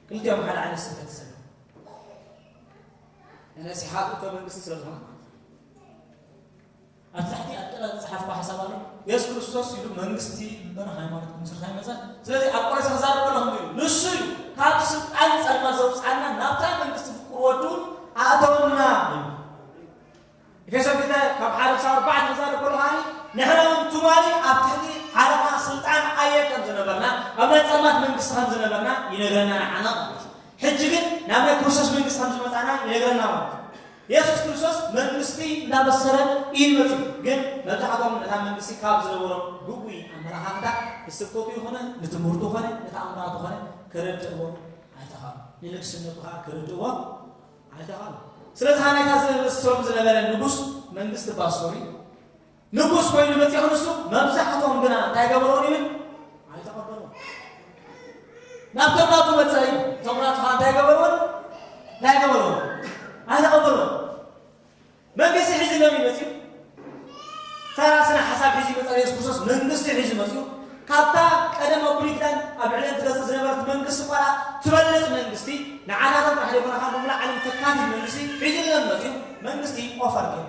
ክልቲኦም ሓደ ዓይነት ስብከት ዝሰለ እነሲ ሓጥቶ መንግስቲ ስለ ዝኾነ ኣብ ታሕቲ ኣብ ጥላ ዝጸሓፍኩ ሓሳብ ኣሎ የሱስ ክርስቶስ ኢሉ መንግስቲ እምበር ሃይማኖት ክምስርት ኣይመጸን ስለዚ ኣብ ቆረሰ ክዛረብ ከለኹ ኢሉ ንሱ እዩ ካብ ስልጣን ጸልማ ዘውጽኣና ናብታ መንግስቲ ፍቁር ወዱ ኣእተወና እዩ ኤፌሶን ክልተ ካብ ሓደ ክሳብ ኣርባዕተ ክዛረብ ከሎ ከዓኒ ንሕና እውን ትማሊ ኣብ ትሕቲ ሓለቓ ስልጣን ኣየር ከም ዝነበርና ኣብ ናይ ጸልማት መንግስቲ ከም ዝነበርና ይነግረና ንዓና ማለት እዩ ሕጂ ግን ናብ ናይ ክርስቶስ መንግስቲ ከም ዝመጻና ይነግረና ማለት እዩ የሱስ ክርስቶስ መንግስቲ እንዳበሰረ ኢዩ መጺኡ ግን መብዛሕትኦም ነታ መንግስቲ ካብ ዝነበሮም ግጉይ ኣመላኻኽታ ንስብከቱ ይኹነ ንትምህርቱ ኮነ ንተኣምራቱ ኮነ ክርድእዎ ኣይተኻሉ ንንግስነቱ ከኣ ክርድእዎ ኣይተኻሉ ስለዚ ሃናይታ ዝመሰሎም ዝነበረ ንጉስ መንግስቲ ባሶሪ ንጉስ ኮይኑ መጺኦ ንሱ መብዛሕቶም ግና እንታይ ገበርዎም ይብል ኣይተቐበልዎን ናብ ተምራቱ መጸ እዩ ተምራቱ ኸዓ እንታይ ገበርዎን እንታይ ገበርዎን ኣይተቐበልዎን መንግስቲ ሒዙ ሎም እዩ መጺኡ ተራ ስነ ሓሳብ ሒዙ ይመጸ ኢየሱስ ክርስቶስ መንግስቲ ሒዙ መጺኡ ካብታ ቀደም ኣብ ብሉይ ኪዳን ኣብ ልዕሊ ትገዝእ ዝነበረት መንግስቲ ቆልዓ ትበልጽ መንግስቲ ንዓታቶም ጥራሕ ዘይኮነ ካብ ምሉእ ዓለም ተካትት መንግስቲ ሒዙ ሎም መጺኡ መንግስቲ ኦፈር ገይሩ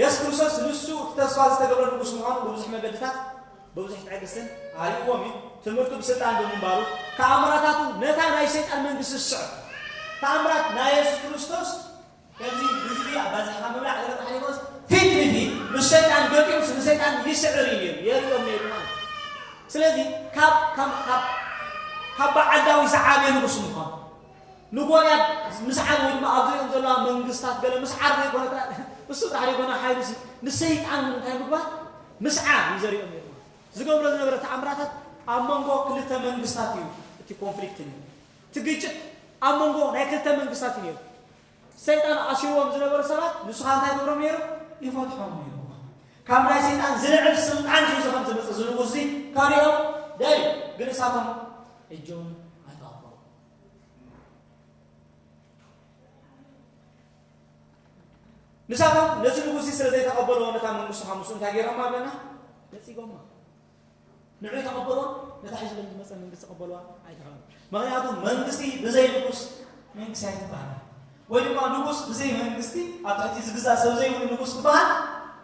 የሱስ ክርስቶስ ንሱ እቲ ተስፋ ዝተገብረ ንጉስ ምዃኑ ብብዙሕ መገድታት ብብዙሕ ትዕግስትን ኣርእይዎም እዩ። ትምህርቱ ብስልጣን ብምንባሩ፣ ተኣምራታቱ ነታ ናይ ሰይጣን መንግስቲ ዝስዕብ ተኣምራት ናይ የሱስ ክርስቶስ ከምዚ ህዝቢ ኣባዚሕኻ ምብላዕ ዝረብሓ ዘይኮነስ ፊት ንፊት ምስ ሰይጣን ገጢሙስ ንሰይጣን ይስዕር እዩ ነይሩ የርእዮም ነይሩ ማለት እዩ። ስለዚ ካብ ካብ ካብ በዓል ዳዊት ዝዓበየ ንጉስ ምዃኑ ንጎልያድ ምስዓር ወይ ድማ ኣብ ዙርያኦም ዘለዋ መንግስታት ገለ ምስዓር ዘይኮነ ጥራይ እሱ ጥራሕ ዘይኮነ ሓይሉ እሲ ንሰይጣን እውን እንታይ ምግባር ምስዓር እዩ ዘሪኦም ነይሩ ማለት እዩ። ዝገብሮ ዝነበረ ተኣምራታት ኣብ መንጎ ክልተ መንግስታት እዩ እቲ ኮንፍሊክት ነይሩ እቲ ግጭት ኣብ መንጎ ናይ ክልተ መንግስታት እዩ ነይሩ። ሰይጣን ኣሲርዎም ዝነበሩ ሰባት ንሱ ከዓ እንታይ ገብሮም ነይሩ ይፈትሖም ነይሩ ካብ ናይ ሰይጣን ዝልዕል ስልጣን ሒዙ ከም ዝመፅእ ዝንጉስ እዚ ከሪኦም ደልዩ ግን እሳቶም እጆም ኣይተቐበሉ ንሳቶም ነዚ ንጉስዚ ስለ ዘይተቐበልዎ ነታ መንግስቱ ኻብ ምስኡ እንታይ ገይሮማ ኣለና? ነጺጎማ። ንዕኡ ተቐበልዋ፣ ነታ ሒዝሎም ዝመጸ መንግስቲ ቀበልዋ ኣይተባህሉ። ምኽንያቱ መንግስቲ ብዘይ ንጉስ መንግስቲ ኣይትበሃልን። ወይ ድማ ንጉስ ብዘይ መንግስቲ ኣብ ትሕቲ ዝግዛእ ሰብ ዘይብሉ ንጉስ ክበሃል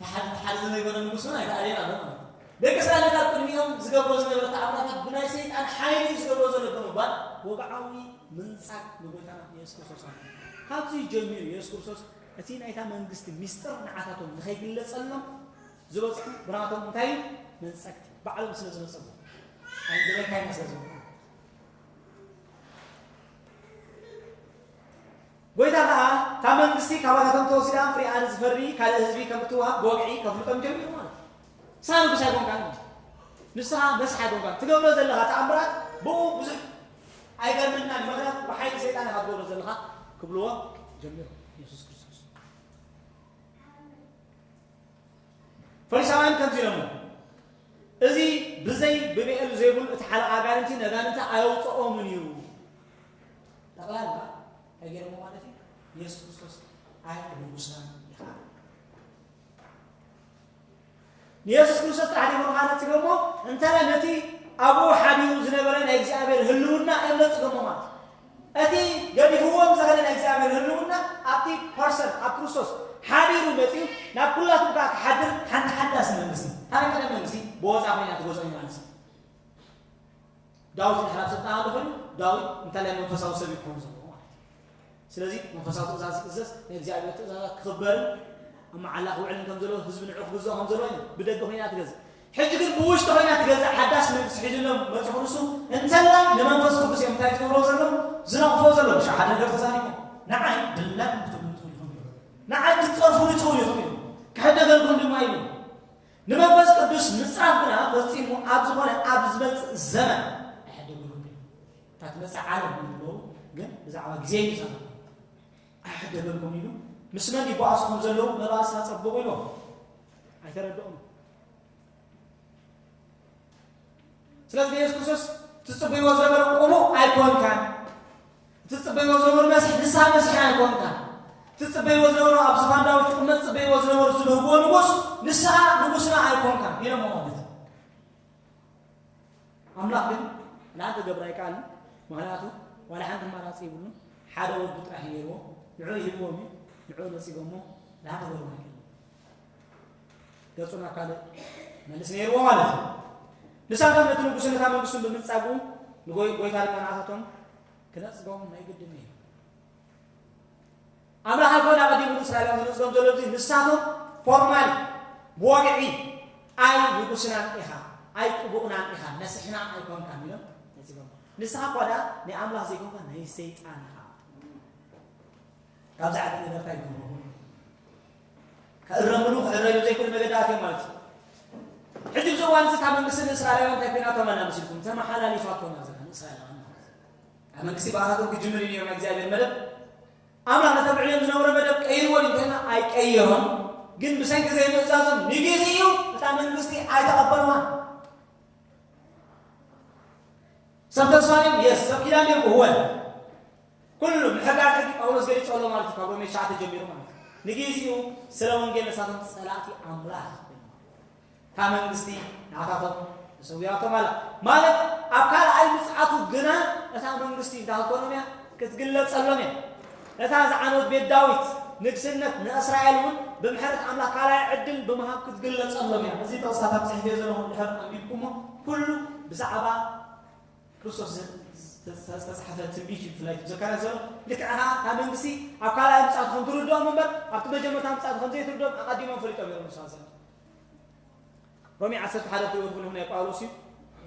ተሓልፊ ዘይኮነ ንጉስውን ኣይተኣልየን ኣሎ ማለት እዩ። ደቂ እስራኤላት ኣብ ቅድሚኦም ዝገብሮ ዝነበረ ተኣምራታት ብናይ ሰይጣን ሓይሊ እዩ ዝገብሮ ዘሎ ብምባል ወግዓዊ ምንጻግ ንጎይታና ኢየሱስ ክርስቶስ ኣምጽኡ። ካብዚ ጀሚሩ ኢየሱስ ክርስቶስ እቲ ናይታ መንግስቲ ሚስጥር ንዓታቶም ንኸይግለጸሎም ዝበጽሑ ብናቶም እንታይ እዩ መንጸግቲ ባዕሎም ስለ ዝነጸጉ ኣይደለካይና ስለ ዝብሉ ጐይታ ከኣ እታ መንግስቲ ካባታቶም ተወሲዳ ፍሬኣ ንዝፈሪ ካልእ ህዝቢ ከም እትወሃብ ብወግዒ ከፍልጦም ጀሚሩ ማለት እዩ። ንስኻ ንጉስ ኣይኮንካን እንጂ ንስኻ መስሕ ኣይኮንካን ትገብሮ ዘለኻ ተኣምራት ብኡ ብዙሕ ኣይገርመናን እዩ ምኽንያቱ ብሓይሊ ሰይጣን ኢኻ ትገብሮ ዘለኻ ክብልዎ ጀሚሮም ኢየሱስ ክርስቶስ ፈሪሳውያን ከምዚ ኢሎሞ እዚ ብዘይ ብብኤል ዘይቡል እቲ ሓለቓ ኣጋንንቲ ነጋንንቲ ኣየውፅኦምን እዩ ጠቕላላ እንታይ ገይሮሞ ማለት እዩ የሱስ ክርስቶስ ኣይ ንጉስና ይኸዓ ንየሱስ ክርስቶስ ጥራሕ ዲሞ ማለት ጽገሞ እንተለ ነቲ ኣብኡ ሓዲሩ ዝነበረ ናይ እግዚኣብሔር ህልውና እምነት ጽገሞ ማለት እቲ ገዲፍዎም ዝኸደ ናይ እግዚኣብሔር ህልውና ኣብቲ ፐርሰን ኣብ ክርስቶስ ሓዲሩ መፅኡ ናብ ኩላትኩም ከዓ ክሓድር ሓንቲ ሓዳስ መንግስቲ ኣነ ቀደም መንግስቲ ብወፃ ኮይና ትገዝኦ ማለት እዩ ዳዊት ድሕራብ ስልጣን ኣሎ ኮይኑ ዳዊት እንተላይ መንፈሳዊ ሰብ ይኮኑ ዘለዎ ማለት እዩ ስለዚ መንፈሳዊ ትእዛዝ ክእዘዝ ናይ እግዚኣብሔር ትእዛዛት ክኽበርን ኣብ መዓላ ክውዕልን ከም ዘለዎ ህዝቢ ንዑ ክግዝኦ ከም ዘለዎ እዩ ብደገ ኮይና ትገዝእ ሕጂ ግን ብውሽጢ ኮይና ትገዝእ ሓዳስ መንግስቲ ሒዙሎም መፅ ክርስቱ እንተላይ ንመንፈስ ቅዱስ እዮም እንታይ ትገብሮ ዘሎ ዝነቕፎ ዘሎ ሻ ሓደ ነገር ተዛሪቦ ንዓይ ድላይ ክትብሉ ትኽእሉ ንዓይ ክትፀርፉ ትኽእሉ ኢኹም ክሕደገልኩም ድማ ኢሉ ንመንፈስ ቅዱስ ምጽራፍ ግና ፈጺሙ ኣብ ዝኾነ ኣብ ዝመጽእ ዘመን ኣይሕደግሉን እዩ። እታ ትመጽእ ዓለም ይብሎ ግን ብዛዕባ ግዜ እዩ ዘመን ኣይሕደገልኩም ኢሉ ምስ መን ይጓዓዙ ከም ዘለዉ መባእሳ ጸብቑ ኢሎም ኣይተረድኦም ስለዚ ንየሱስ ክርስቶስ ትጽበይዎ ዝነበርኩምኡ ኣይኮንካን ትጽበይዎ ዝነበሩ መስሕ ንስሓ መስሕ ኣይኮንካን ትጽበይዎ ዝነበሩ ኣብ ዝፋን ዳዊት ክቕመጥ ጽበይዎ ዝነበሩ ዝብህግዎ ንጉስ ንስሓ ንጉስና ኣይኮንካን ኢሎሞ ማለት ኣምላኽ ግን ንኣንተ ገብራ ኣይከኣልን ምክንያቱ ዋላ ሓንቲ ኣማራፂ ይብሉን ሓደ ወዱ ጥራሕ ነይርዎ ንዑ ይህብዎም እዩ ንዑ ነፂጎሞ ንሓተገሩ ኣይከ ገጹ ናብ ካልእ መልስ ነይርዎ ማለት እዩ ንሳቶም ነቲ ንጉስ ነታ መንግስቱን ብምንጻጉ ንጎይታ ልመናታቶም ክነጽጎም ናይ ግድን እዩ ኣምላኽ ኣይኮነ ቀዲሙ ንእስራኤላውያን ዝነጽጎም ዘሎ እዚ ንሳቶም ፎርማል ብወግዒ ኣይ ንጉስናን ኢኻ ኣይ ቅቡእናን ኢኻ መስሕና ኣይኮንካን ኢሎም ነጺጎም ንስኻ እኳ ደኣ ናይ ኣምላኽ ዘይኮንካ ናይ ሰይጣን ኢኻ ካብዚ ዓይነት ነገር እንታይ ይገብሩ? ክእረምሉ ክዕረዩ ዘይክእሉ መገዲ ኣትዮም ማለት እዩ። ሕጂ እዚ እዋን እዚ ካብ መንግስቲ ንእስራኤላውያን እንታይ ኮይናቶም ኣላ መሲልኩም? ተመሓላሊፋቶም ኣላ ዘላ ንእስራኤላውያን ማለት እዩ። ኣብ መንግስቲ ብኣታቶም ክጅምር እዩ ነይሩ ናይ እግዚኣብሔር መደብ ኣምላኽ ነተብዕልዮም ዝነበረ መደብ ቀይርዎ ድዩ እንተይልና ኣይቀየሮን። ግን ብሰንኪ ዘይምእዛዞም ንግዜኡ እታ መንግስቲ ኣይተቐበልዋን። ሰብ ተስፋ ድዮም? የስ ሰብ ኪዳን ድዮም? እወ ኩሉ ምሕጋር ሕጊ ጳውሎስ ገሊጹ ኣሎ ማለት እዩ ካብ ሮሜ ትሽዓተ ጀሚሩ ማለት እዩ ንግዜኡ ስለ ወንጌል ንሳቶም ጸላእቲ ኣምላኽ ካብ መንግስቲ ንዓታቶም ተሰዊራቶም ኣላ ማለት ኣብ ካልኣይ ምጽዓቱ ግና እታ መንግስቲ እንዳ ኮኖም እያ ክትግለጸሎም እያ እታ ዝዓነወት ቤት ዳዊት ንግስነት ንእስራኤል እውን ብምሕረት ኣምላኽ ካልኣይ ዕድል ብምሃብ ክትግለጸሎም እያ እዚ ጥቕስታት ኣብ ጽሕፍ እየ ዘለኹ ድሕር ኣንቢብኩሞ ኩሉ ብዛዕባ ክርስቶስ ዝተጻሕፈ ትንቢት እዩ ብፍላይ እቲ ዘካርያስ ዘሎ ልክዕ ከኣ ካብ መንግስቲ ኣብ ካልኣይ ምጽኣቱ ከም ትርድኦም እምበር ኣብቲ መጀመርታ ምጽኣቱ ከም ዘይትርድኦም ኣቐዲሞም ፈሊጦም እዮም ንሳ ዘ ሮሜ 11 ትሪእዎ ትኽእሉ ናይ ጳውሎስ እዩ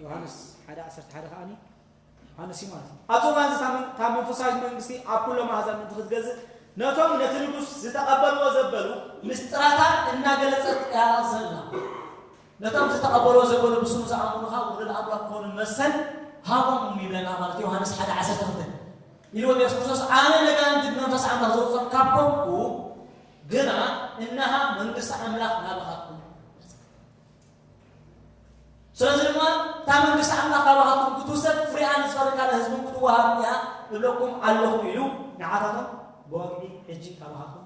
ዮሃንስ 1 11 ከኣ ዮሃንስ እዩ ማለት እዩ ኣብዚ እዋን እዚ ካብ መንፈሳዊት መንግስቲ ኣብ ኩሎም ኣህዛብ ምእንቲ ክትገዝእ ነቶም ነቲ ንጉስ ዝተቐበልዎ ዘበሉ ምስጢራታ እናገለጸት እያ ዘላ ነቶም ዝተቐበልዎ ዘበሉ ብስሙ ዝኣምኑ ኸኣ ውሉድ ኣምላኽ ክኾኑ መሰል ሃቦም ይብለና ማለት ዮሃንስ ሓደ ዓሰርተ ክልተ ኢልዎም ኢየሱስ ክርስቶስ ኣነ ነጋንንቲ ብመንፈስ ኣምላኽ ዘውፅኦም ካብ ኮንኩ ግና እነሃ መንግስቲ ኣምላኽ ናባኻትኩም ስለዚ ድማ እታ መንግስቲ ኣምላኽ ካባኻትኩም ክትውሰድ ፍሪኣ ንዝፈሪ ካልእ ህዝብን ክትወሃብ እያ እብለኩም ኣለኹ ኢሉ ንዓታቶም ብወግዒ ሕጂ ካባኻትኩም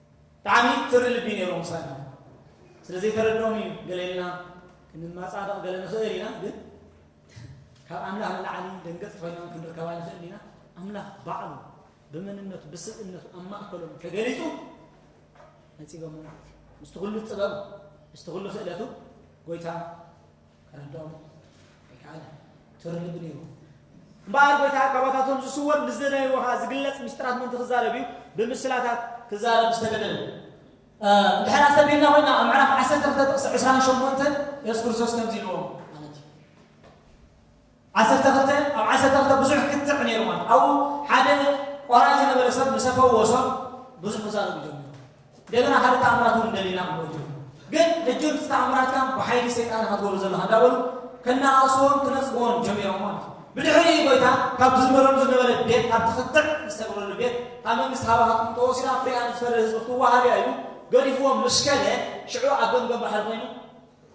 ብጣዕሚ ትሪ ልቢ ኔሩ ምሳና ስለ ዘይተረድኦም እዩ ገለ ኢልና ክንማጻደቕ ገለ ንኽእል ኢና ግን ካብ ኣምላኽ ንላዕሊ ደንገጽቲ ኮይና ክንርከባ ንኽእል ኢና ኣምላኽ ባዕሉ ብመንነቱ ብስብእነቱ ኣብ ማእከሎም ተገሊጹ ነጺጎም ማለት እዩ ምስቲ ኩሉ ጥበቡ ምስቲ ኩሉ ክእለቱ ጎይታ ከረድኦ ኣይከኣለን። ቶረ ልቢ ነይሩ እምበኣር ጐይታ ካባታቶም ዝስወር ምስ ዝደለይዎ ኸኣ ዝግለጽ ምስጢራት ምእንቲ ክዛረብ እዩ ብምስላታት ክዛረብ ዝተገደደ። እንድሕር ኣስተብሂልና ኮይና ኣብ ምዕራፍ ዓሰርተ ክልተ ጥቕሲ ዕስራን ሸሞንተን የሱስ ክርስቶስ ከምዚ ኢልዎም ዓሰርተ ክልተ፣ ኣብ ዓሰርተ ክልተ ብዙሕ ክትዕ ነይሩ ማለት ኣብኡ ሓደ ቆራይ ዝነበረ ሰብ ምሰ ፈወሶም ብዙሕ ክዛረቡ ጀሚሮም እንደገና ካልእ ተኣምራት እውን እንደሊና ክብሉ ጀመሩ ግን ሕጂ እቲ ተኣምራትካ ብሓይሊ ሰይጣን ኢኻ ትገብሮ ዘለኻ እንዳበሉ ከናኣእስዎን ክነጽግዎን ጀሚሮም ማለት እዩ ብድሕሪ ጎይታ ካብ ዝዝመረሉ ዝነበረ ቤት ካብቲ ክትዕ ዝተገብረሉ ቤት ካብ መንግስቲ ሃባኻትኩም ተወሲዳ ፍሪኣ ንዝፈሪ ህዝቢ ክትወሃብ እያ ኢሉ ገሪፍዎም ምስ ከደ ሽዑ ኣብ ገምገም ባሕሪ ኮይኑ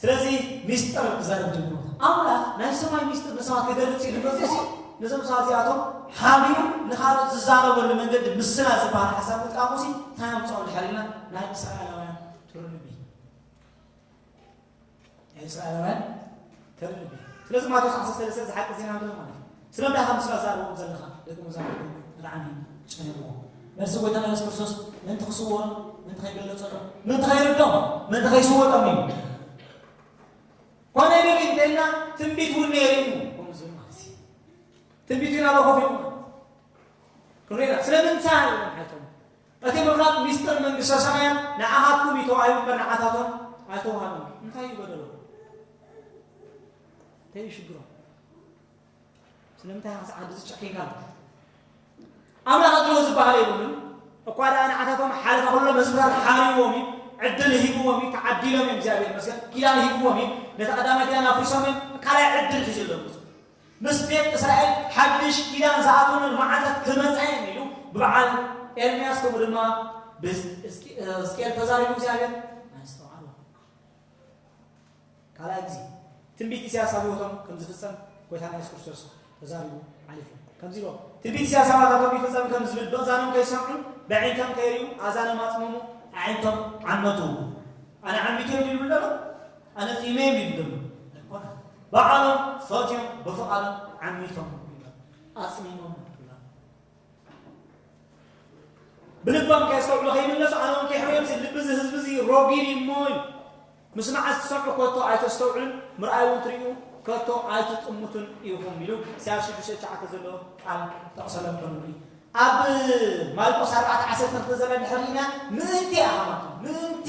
ስለዚ ሚስጥር ክዛረብ ጀምሩ ኣምላኽ ናይ ሰማይ ሚስጥር ንሰባት ክገልጽ እዩ ንመጽሲ ነዞም ሰባት እዚኣቶም ሓቢሩ ንካልኦት ዝዛረበሉ መንገዲ ምስላ ዝበሃል ሓሳብ ምጥቃሙ ሲ እንታይ ኣምፅኦ ንድሕሪና ናይ እስራኤላውያን ትርጉም እዩ ናይ እስራኤላውያን ተርድእ ኢኻ ስለዚ ማቴዎስ ዓሰርተ ሰለስተ ዝሓቂ ዜና እንተ ዝኾነ ስለምንታይ ኢኻ ምስላ ትዛረበኩም ዘለኻ ደቂ መዛሙርቱ ብጣዕሚ ጨነቕዎ መልሲ ጎይታና የሱስ ክርስቶስ ምእንቲ ክስወሮም ምእንቲ ከይገለጸሎም ምእንቲ ከይርዶም ምእንቲ ከይስወጦም እዩ ኮነ ግን እንተልና ትንቢት እውን ነይሩ እዩ ከምኡ ዝብል ማለት እዩ ትንቢት ግን ኣብ ኮፍ ኢሉ ማለት ክንሪና ስለምንታይ ኢሎም ሓይቶም እቲ ምኽራብ ሚስጥር መንግስተ ሰማያት ንዓኻትኩም እዩ ተባሂሉ እምበር ንዓታቶም ኣይተዋህበን። እንታይ እዩ በደሎም? እንታይ እዩ ሽግሮም? ስለምንታይ ክሳዕ ክንድዚ ጨኪንካ ኣምላኽ ኣድሎ ዝበሃል የብሉን እኳ ደኣ ንዓታቶም ሓለፈ ኩሎ መዝሙራት ሓሪዎም እዩ ዕድል ሂብዎም እዩ ተዓዲሎም እዮም እግዚኣብሔር መስገን ኪዳን ሂብዎም እዩ ነቲ ቀዳማይ ኪዳን ኣፍሪሶም እዮም ካልኣይ ዕድል ሒዙ ኣለዎም ምስ ቤት እስራኤል ሓድሽ ኪዳን ዝኣትወሉ መዓልታት ክመጻ እየን ኢሉ ብበዓል ኤርምያስ ከምኡ ድማ ብሕዝቅኤል ተዛሪቡ እግዚኣብሔር ኣስተውዓሉ። ካልኣይ ግዜ ትንቢት ኢሳያስ ኣብ ህይወቶም ከም ዝፍጸም ጎይታና የሱስ ክርስቶስ ተዛሪቡ ሓሊፉ ከምዚ ኢሎ ትንቢት ኢሳያስ ኣባታቶም ይፍጸም ከም ዝብል ብእዛኖም ከይሰምዑ ብዕንቶም ከይርዩ ኣዛኖም ኣጽመሙ ኣዒንቶም ዓመቱ ኣነ ዓሚቱ እዮም ይብሉ ደሎ ኣነ ቂመ የብለይን ኣይኮነን ባዕሎም ፈትዮም ብፍቃዶም ዓሚቶም ኣጽሚሞም ብልባም ከየስተውዕሉ ከይምለሱ ኣነ እውን ከይሕረዮም ልቢ እዚ ህዝቢ እዚ ሮጊድ እሞ እዩ ምስ መዓዝ ትሰምዑ ከቶ ኣይተስተውዕሉን ምርኣይ እውን ትርዩ ከቶ ኣይትጥምቱን ኢኹም ኢሉ ኢሳያስ ሽዱሽተ ትሽዓተ ዘሎ ቃል ጠቕሰሎም ከሉ ኣብ ማርቆስ ኣርባዕተ ዓሰርተ ክልተ ዘላ ድሕር ኢና ምእንቲ ኣሃማቱ ምእንቲ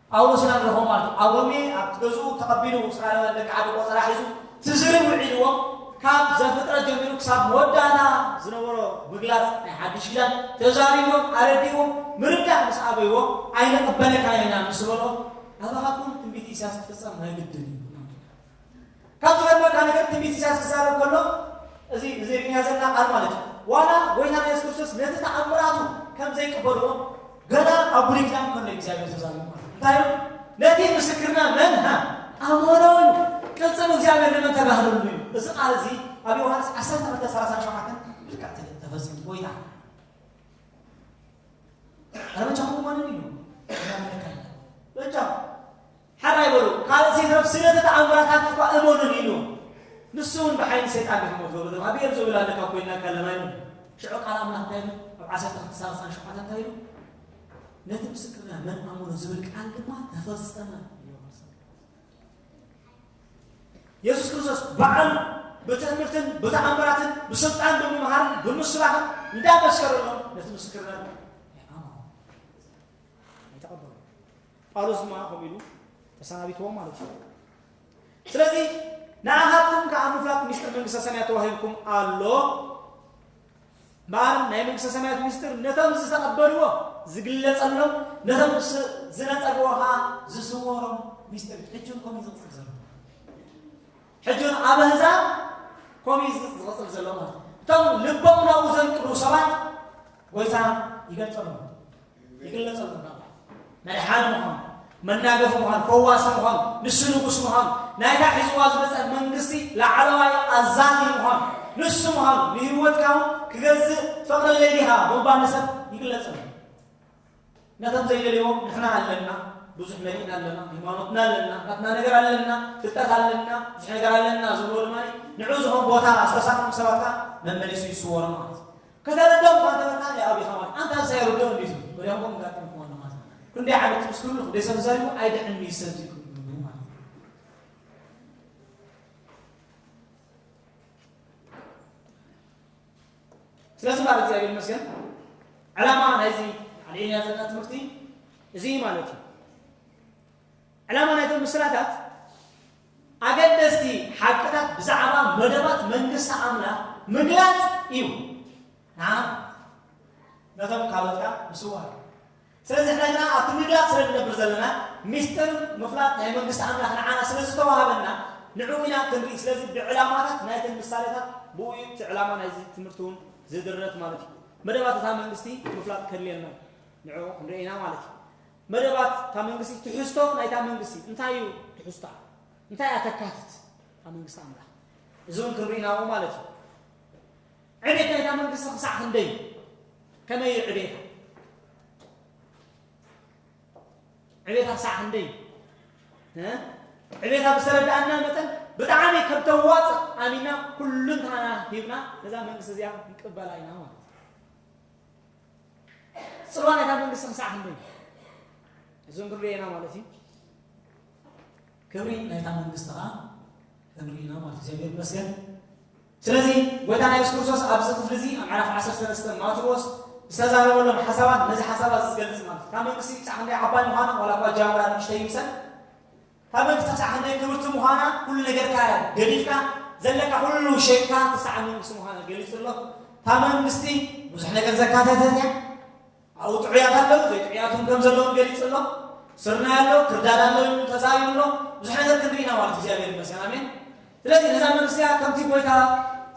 ጳውሎስ ኢና ንረኽቦ ማለት እዩ። ኣብ ሮሜ ኣብቲ ገዝኡ ተቐቢሉ እስራኤላውያን ደቂ ዓዱ ቆጸራ ሒዙ ትዝርብ ውዒልዎም ካብ ዘፍጥረት ጀሚሩ ክሳብ መወዳእታ ዝነበሮ ምግላጽ ናይ ሓድሽ ኪዳን ተዛሪብዎም ኣረዲእዎም ምርዳእ ምስ ኣበይዎ ኣይንቕበለካን ኢና ምስ በልኦም ኣባኻትኩም ትንቢት ኢሳያስ ክፍጸም ናይ ግድን እዩ። ካብ ዝገርመካ ነገር ትንቢት ኢሳያስ ክዛረብ ከሎ እዚ ንዜርኛ ዘላ ቃል ማለት እዩ ዋላ ጎይታና የሱስ ክርስቶስ ነቲ ተኣምራቱ ከም ዘይቅበልዎ ገና ኣብ ብሉይ ኪዳን ከሎ እግዚኣብሔር ተዛሪቡ እንታይ እዩ ነቲ ምስክርና መን ሃ ኣመኖ እዩ ቅልፅም እግዚኣብሔር ንመን ተጋህለሉ እዩ እዚ ቃል እዚ ኣብ ዮሃንስ 1237 ልክዕ ተፈፂሙ ጎይታ ኣረ በጃኹም ማንን እዩ በጃኹም ሕራይ በሉ ካልእ ዘይትረፍ ስለቲ ተኣምራታትኪ እኳ እመኑኒ ኢልዎም ንሱ እውን ብሓይሊ ሰይጣን ዲኺ ሞት በሉ እቶም ብኤር ዞብላ ኣለካ ኮይንና ከለና ኢሉ ሽዑ ቃል ኣምላኽ እንታይ ኢሉ ኣብ ዓሰርተ ክልተ ሳልሳን ሸውዓተን እንታይ ኢሉ ነቲ ምስክርና መን ኣመኑ ዝብል ቃል ድማ ተፈጸመ የሱስ ክርስቶስ በዓሉ ብትእምርትን ብተኣምራትን ብስልጣን ብምምሃርን ብምስባኽን እንዳመስከረሎም ነቲ ምስክርና ጳውሎስ ድማ ከምኡ ኢሉ ተሰናቢትዎም ማለት እዩ። ስለዚ ንኣኻትኩም ከዓ ምፍላጥ ምስጢር መንግስተ ሰማያት ተዋሂብኩም ኣሎ እምበኣር ናይ መንግስተ ሰማያት ምስጢር ነቶም ዝተቐበልዎ ዝግለጸሎም ነቶም ዝነጸግዎ ከዓ ዝስወሮም ምስጢር ሕጂ እውን ከምኡ ዝቕፅል ዘሎ ሕጂ እውን ኣብ ኣህዛብ ከምኡ ዝቕፅል ዘሎ ማለት እቶም ልቦም ናብኡ ዘንቅዱ ሰባት ጎይታ ይገልጸሎም ይግለጽ ኣሎ ናብራ መድሓኒ ምዃኑ መናገፊ ምዃኑ ፈዋሲ ምዃኑ ንሱ ንጉስ ምዃኑ ናይታ ሒዝዋ ዝመፀ መንግስቲ ላዕለዋይ ኣዛዚ ምዃኑ ንሱ ምዃኑ ንህይወትካ እውን ክገዝእ ትፈቕደለይ ዲኻ ምባል ንሰብ ይግለጽ ኣሎ ነቶም ዘይደልዎም ንሕና ኣለና ብዙሕ መሪእና ኣለና ሃይማኖትና ኣለና ናትና ነገር ኣለና ፍልጠት ኣለና ብዙሕ ነገር ኣለና ዝብሎ ድማ ንዑ ዝኾን ቦታ ዝተሳተፉ ሰባት ከዓ መመሊሱ ይስወሮ ማለት እዩ ከተረድኦም እኳ እንተበልካ ን ኣቢኻ ማለት ኣንታ እዚ ኣይርድኦን ድዩ ዝብል ወዲያው ከምኡ ጋጢሙ ክኾን ማለት ክንደይ ዓመት ምስ ክብሉ ክንደይ ሰብ ተዛሪቡ ኣይድሕን እዩ ሰብ ዝዩ ስለዚ ማለት እግዚኣብሔር ይመስገን ዕላማ ናይዚ ኣልዒልና ዘለና ትምህርቲ እዚ ማለት እዩ ዕላማ ናይቶም ምስላታት ኣገደስቲ ሓቅታት ብዛዕባ መደባት መንግስቲ ኣምላኽ ምግላጽ ኢዩ፣ ንዓና ነቶም ካልኦት ከኣ ምስዋር ኢዩ። ስለዚ ንሕና ግና ኣብቲ ምግላጽ ስለ እንነብር ዘለና ምስጢር ምፍላጥ ናይ መንግስቲ ኣምላኽ ንዓና ስለ ዝተዋህበና ንዕኡ ኢና ክንርኢ። ስለዚ ብዕላማታት ናይተን ምሳሌታት ብእኡ ኢዩ እቲ ዕላማ ናይዚ ትምህርቲ እውን ዝድረት ማለት ኢዩ። መደባት እታ መንግስቲ ምፍላጥ ከድልየና ኢዩ ንዕኡ ክንርኢ ኢና ማለት ኢዩ። መደባት እታ መንግስቲ ትሕዝቶ ናይታ መንግስቲ እንታይ እዩ ትሕዝቶኣ እንታይ እያ ተካትት እታ መንግስቲ ኣምላኽ እዚ እውን ክንርኢናዎ ማለት እዩ ዕቤት ናይታ መንግስቲ ክሳዕ ክንደይ ከመይ እዩ ዕቤታ ዕቤታ ክሳዕ ክንደይ ዕቤታ ብዝተረዳእና መጠን ብጣዕሚ ከም ተዋፅእ ኣሚና ኩሉንታና ሂብና ነዛ መንግስቲ እዚኣ ክንቅበላ ኢና ማለት እዩ ጽልዋ ናይታ መንግስቲ ክሳዕ ክንደይ እዩ? እዚ እንክብሉ እየና ማለት እዩ። ክብሪ ናይታ መንግስቲ ከዓ ክንርኢ ኢና ማለት እግዚኣብሔር ይመስገን። ስለዚ ጎይታና ኢየሱስ ክርስቶስ ኣብዚ ክፍሊ እዚ ኣብ ምዕራፍ 13 ማቴዎስ ዝተዛረበሎም ሓሳባት ነዚ ሓሳባት ዝገልጽ ማለት እታ መንግስቲ ክሳዕ ክንደይ ዓባይ ምዃና ዋላ እኳ ጃምራ ንእሽተይ ይምሰል ካበይ ክሳዕ ክንደይ ክብርቲ ምዃና ኩሉ ነገርካ ገዲፍካ ዘለካ ኩሉ ሸይጥካ ክሳዕ መንግስቲ ምዃና ገሊጹ ኣሎ። እታ መንግስቲ ብዙሕ ነገር ዘካተተት እያ። ኣብኡ ጥዑያት ኣለዉ፣ ዘይጥዑያት እውን ከም ዘለዉ ገሊጹ ኣሎ። ስርናይ ኣሎ፣ ክርዳድ ኣሎ ኢሉ ተዛሪቡ ኣሎ። ብዙሕ ነገር ክንርኢ ኢና ማለት እዩ። እግዚኣብሔር ይመስገን። ኣሜን። ስለዚ ነዛ መንእሰያ ከምቲ ጎይታ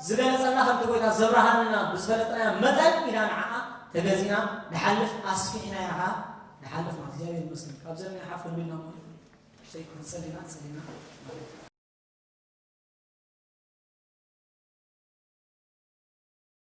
ዝገለጸልና ከምቲ ጎይታ ዘብራሃልና ብዝፈለጥናያ መጠን ኢና ንዓኣ ተገዚእና ንሓልፍ ኣስፊሕናያ ከኣ ንሓልፍ ማለት እግዚኣብሔር ይመስገን ካብ ዘለና ሓፍ ክንብልና ማለት እዩ ክንጸልና ጸሊና ማለት እዩ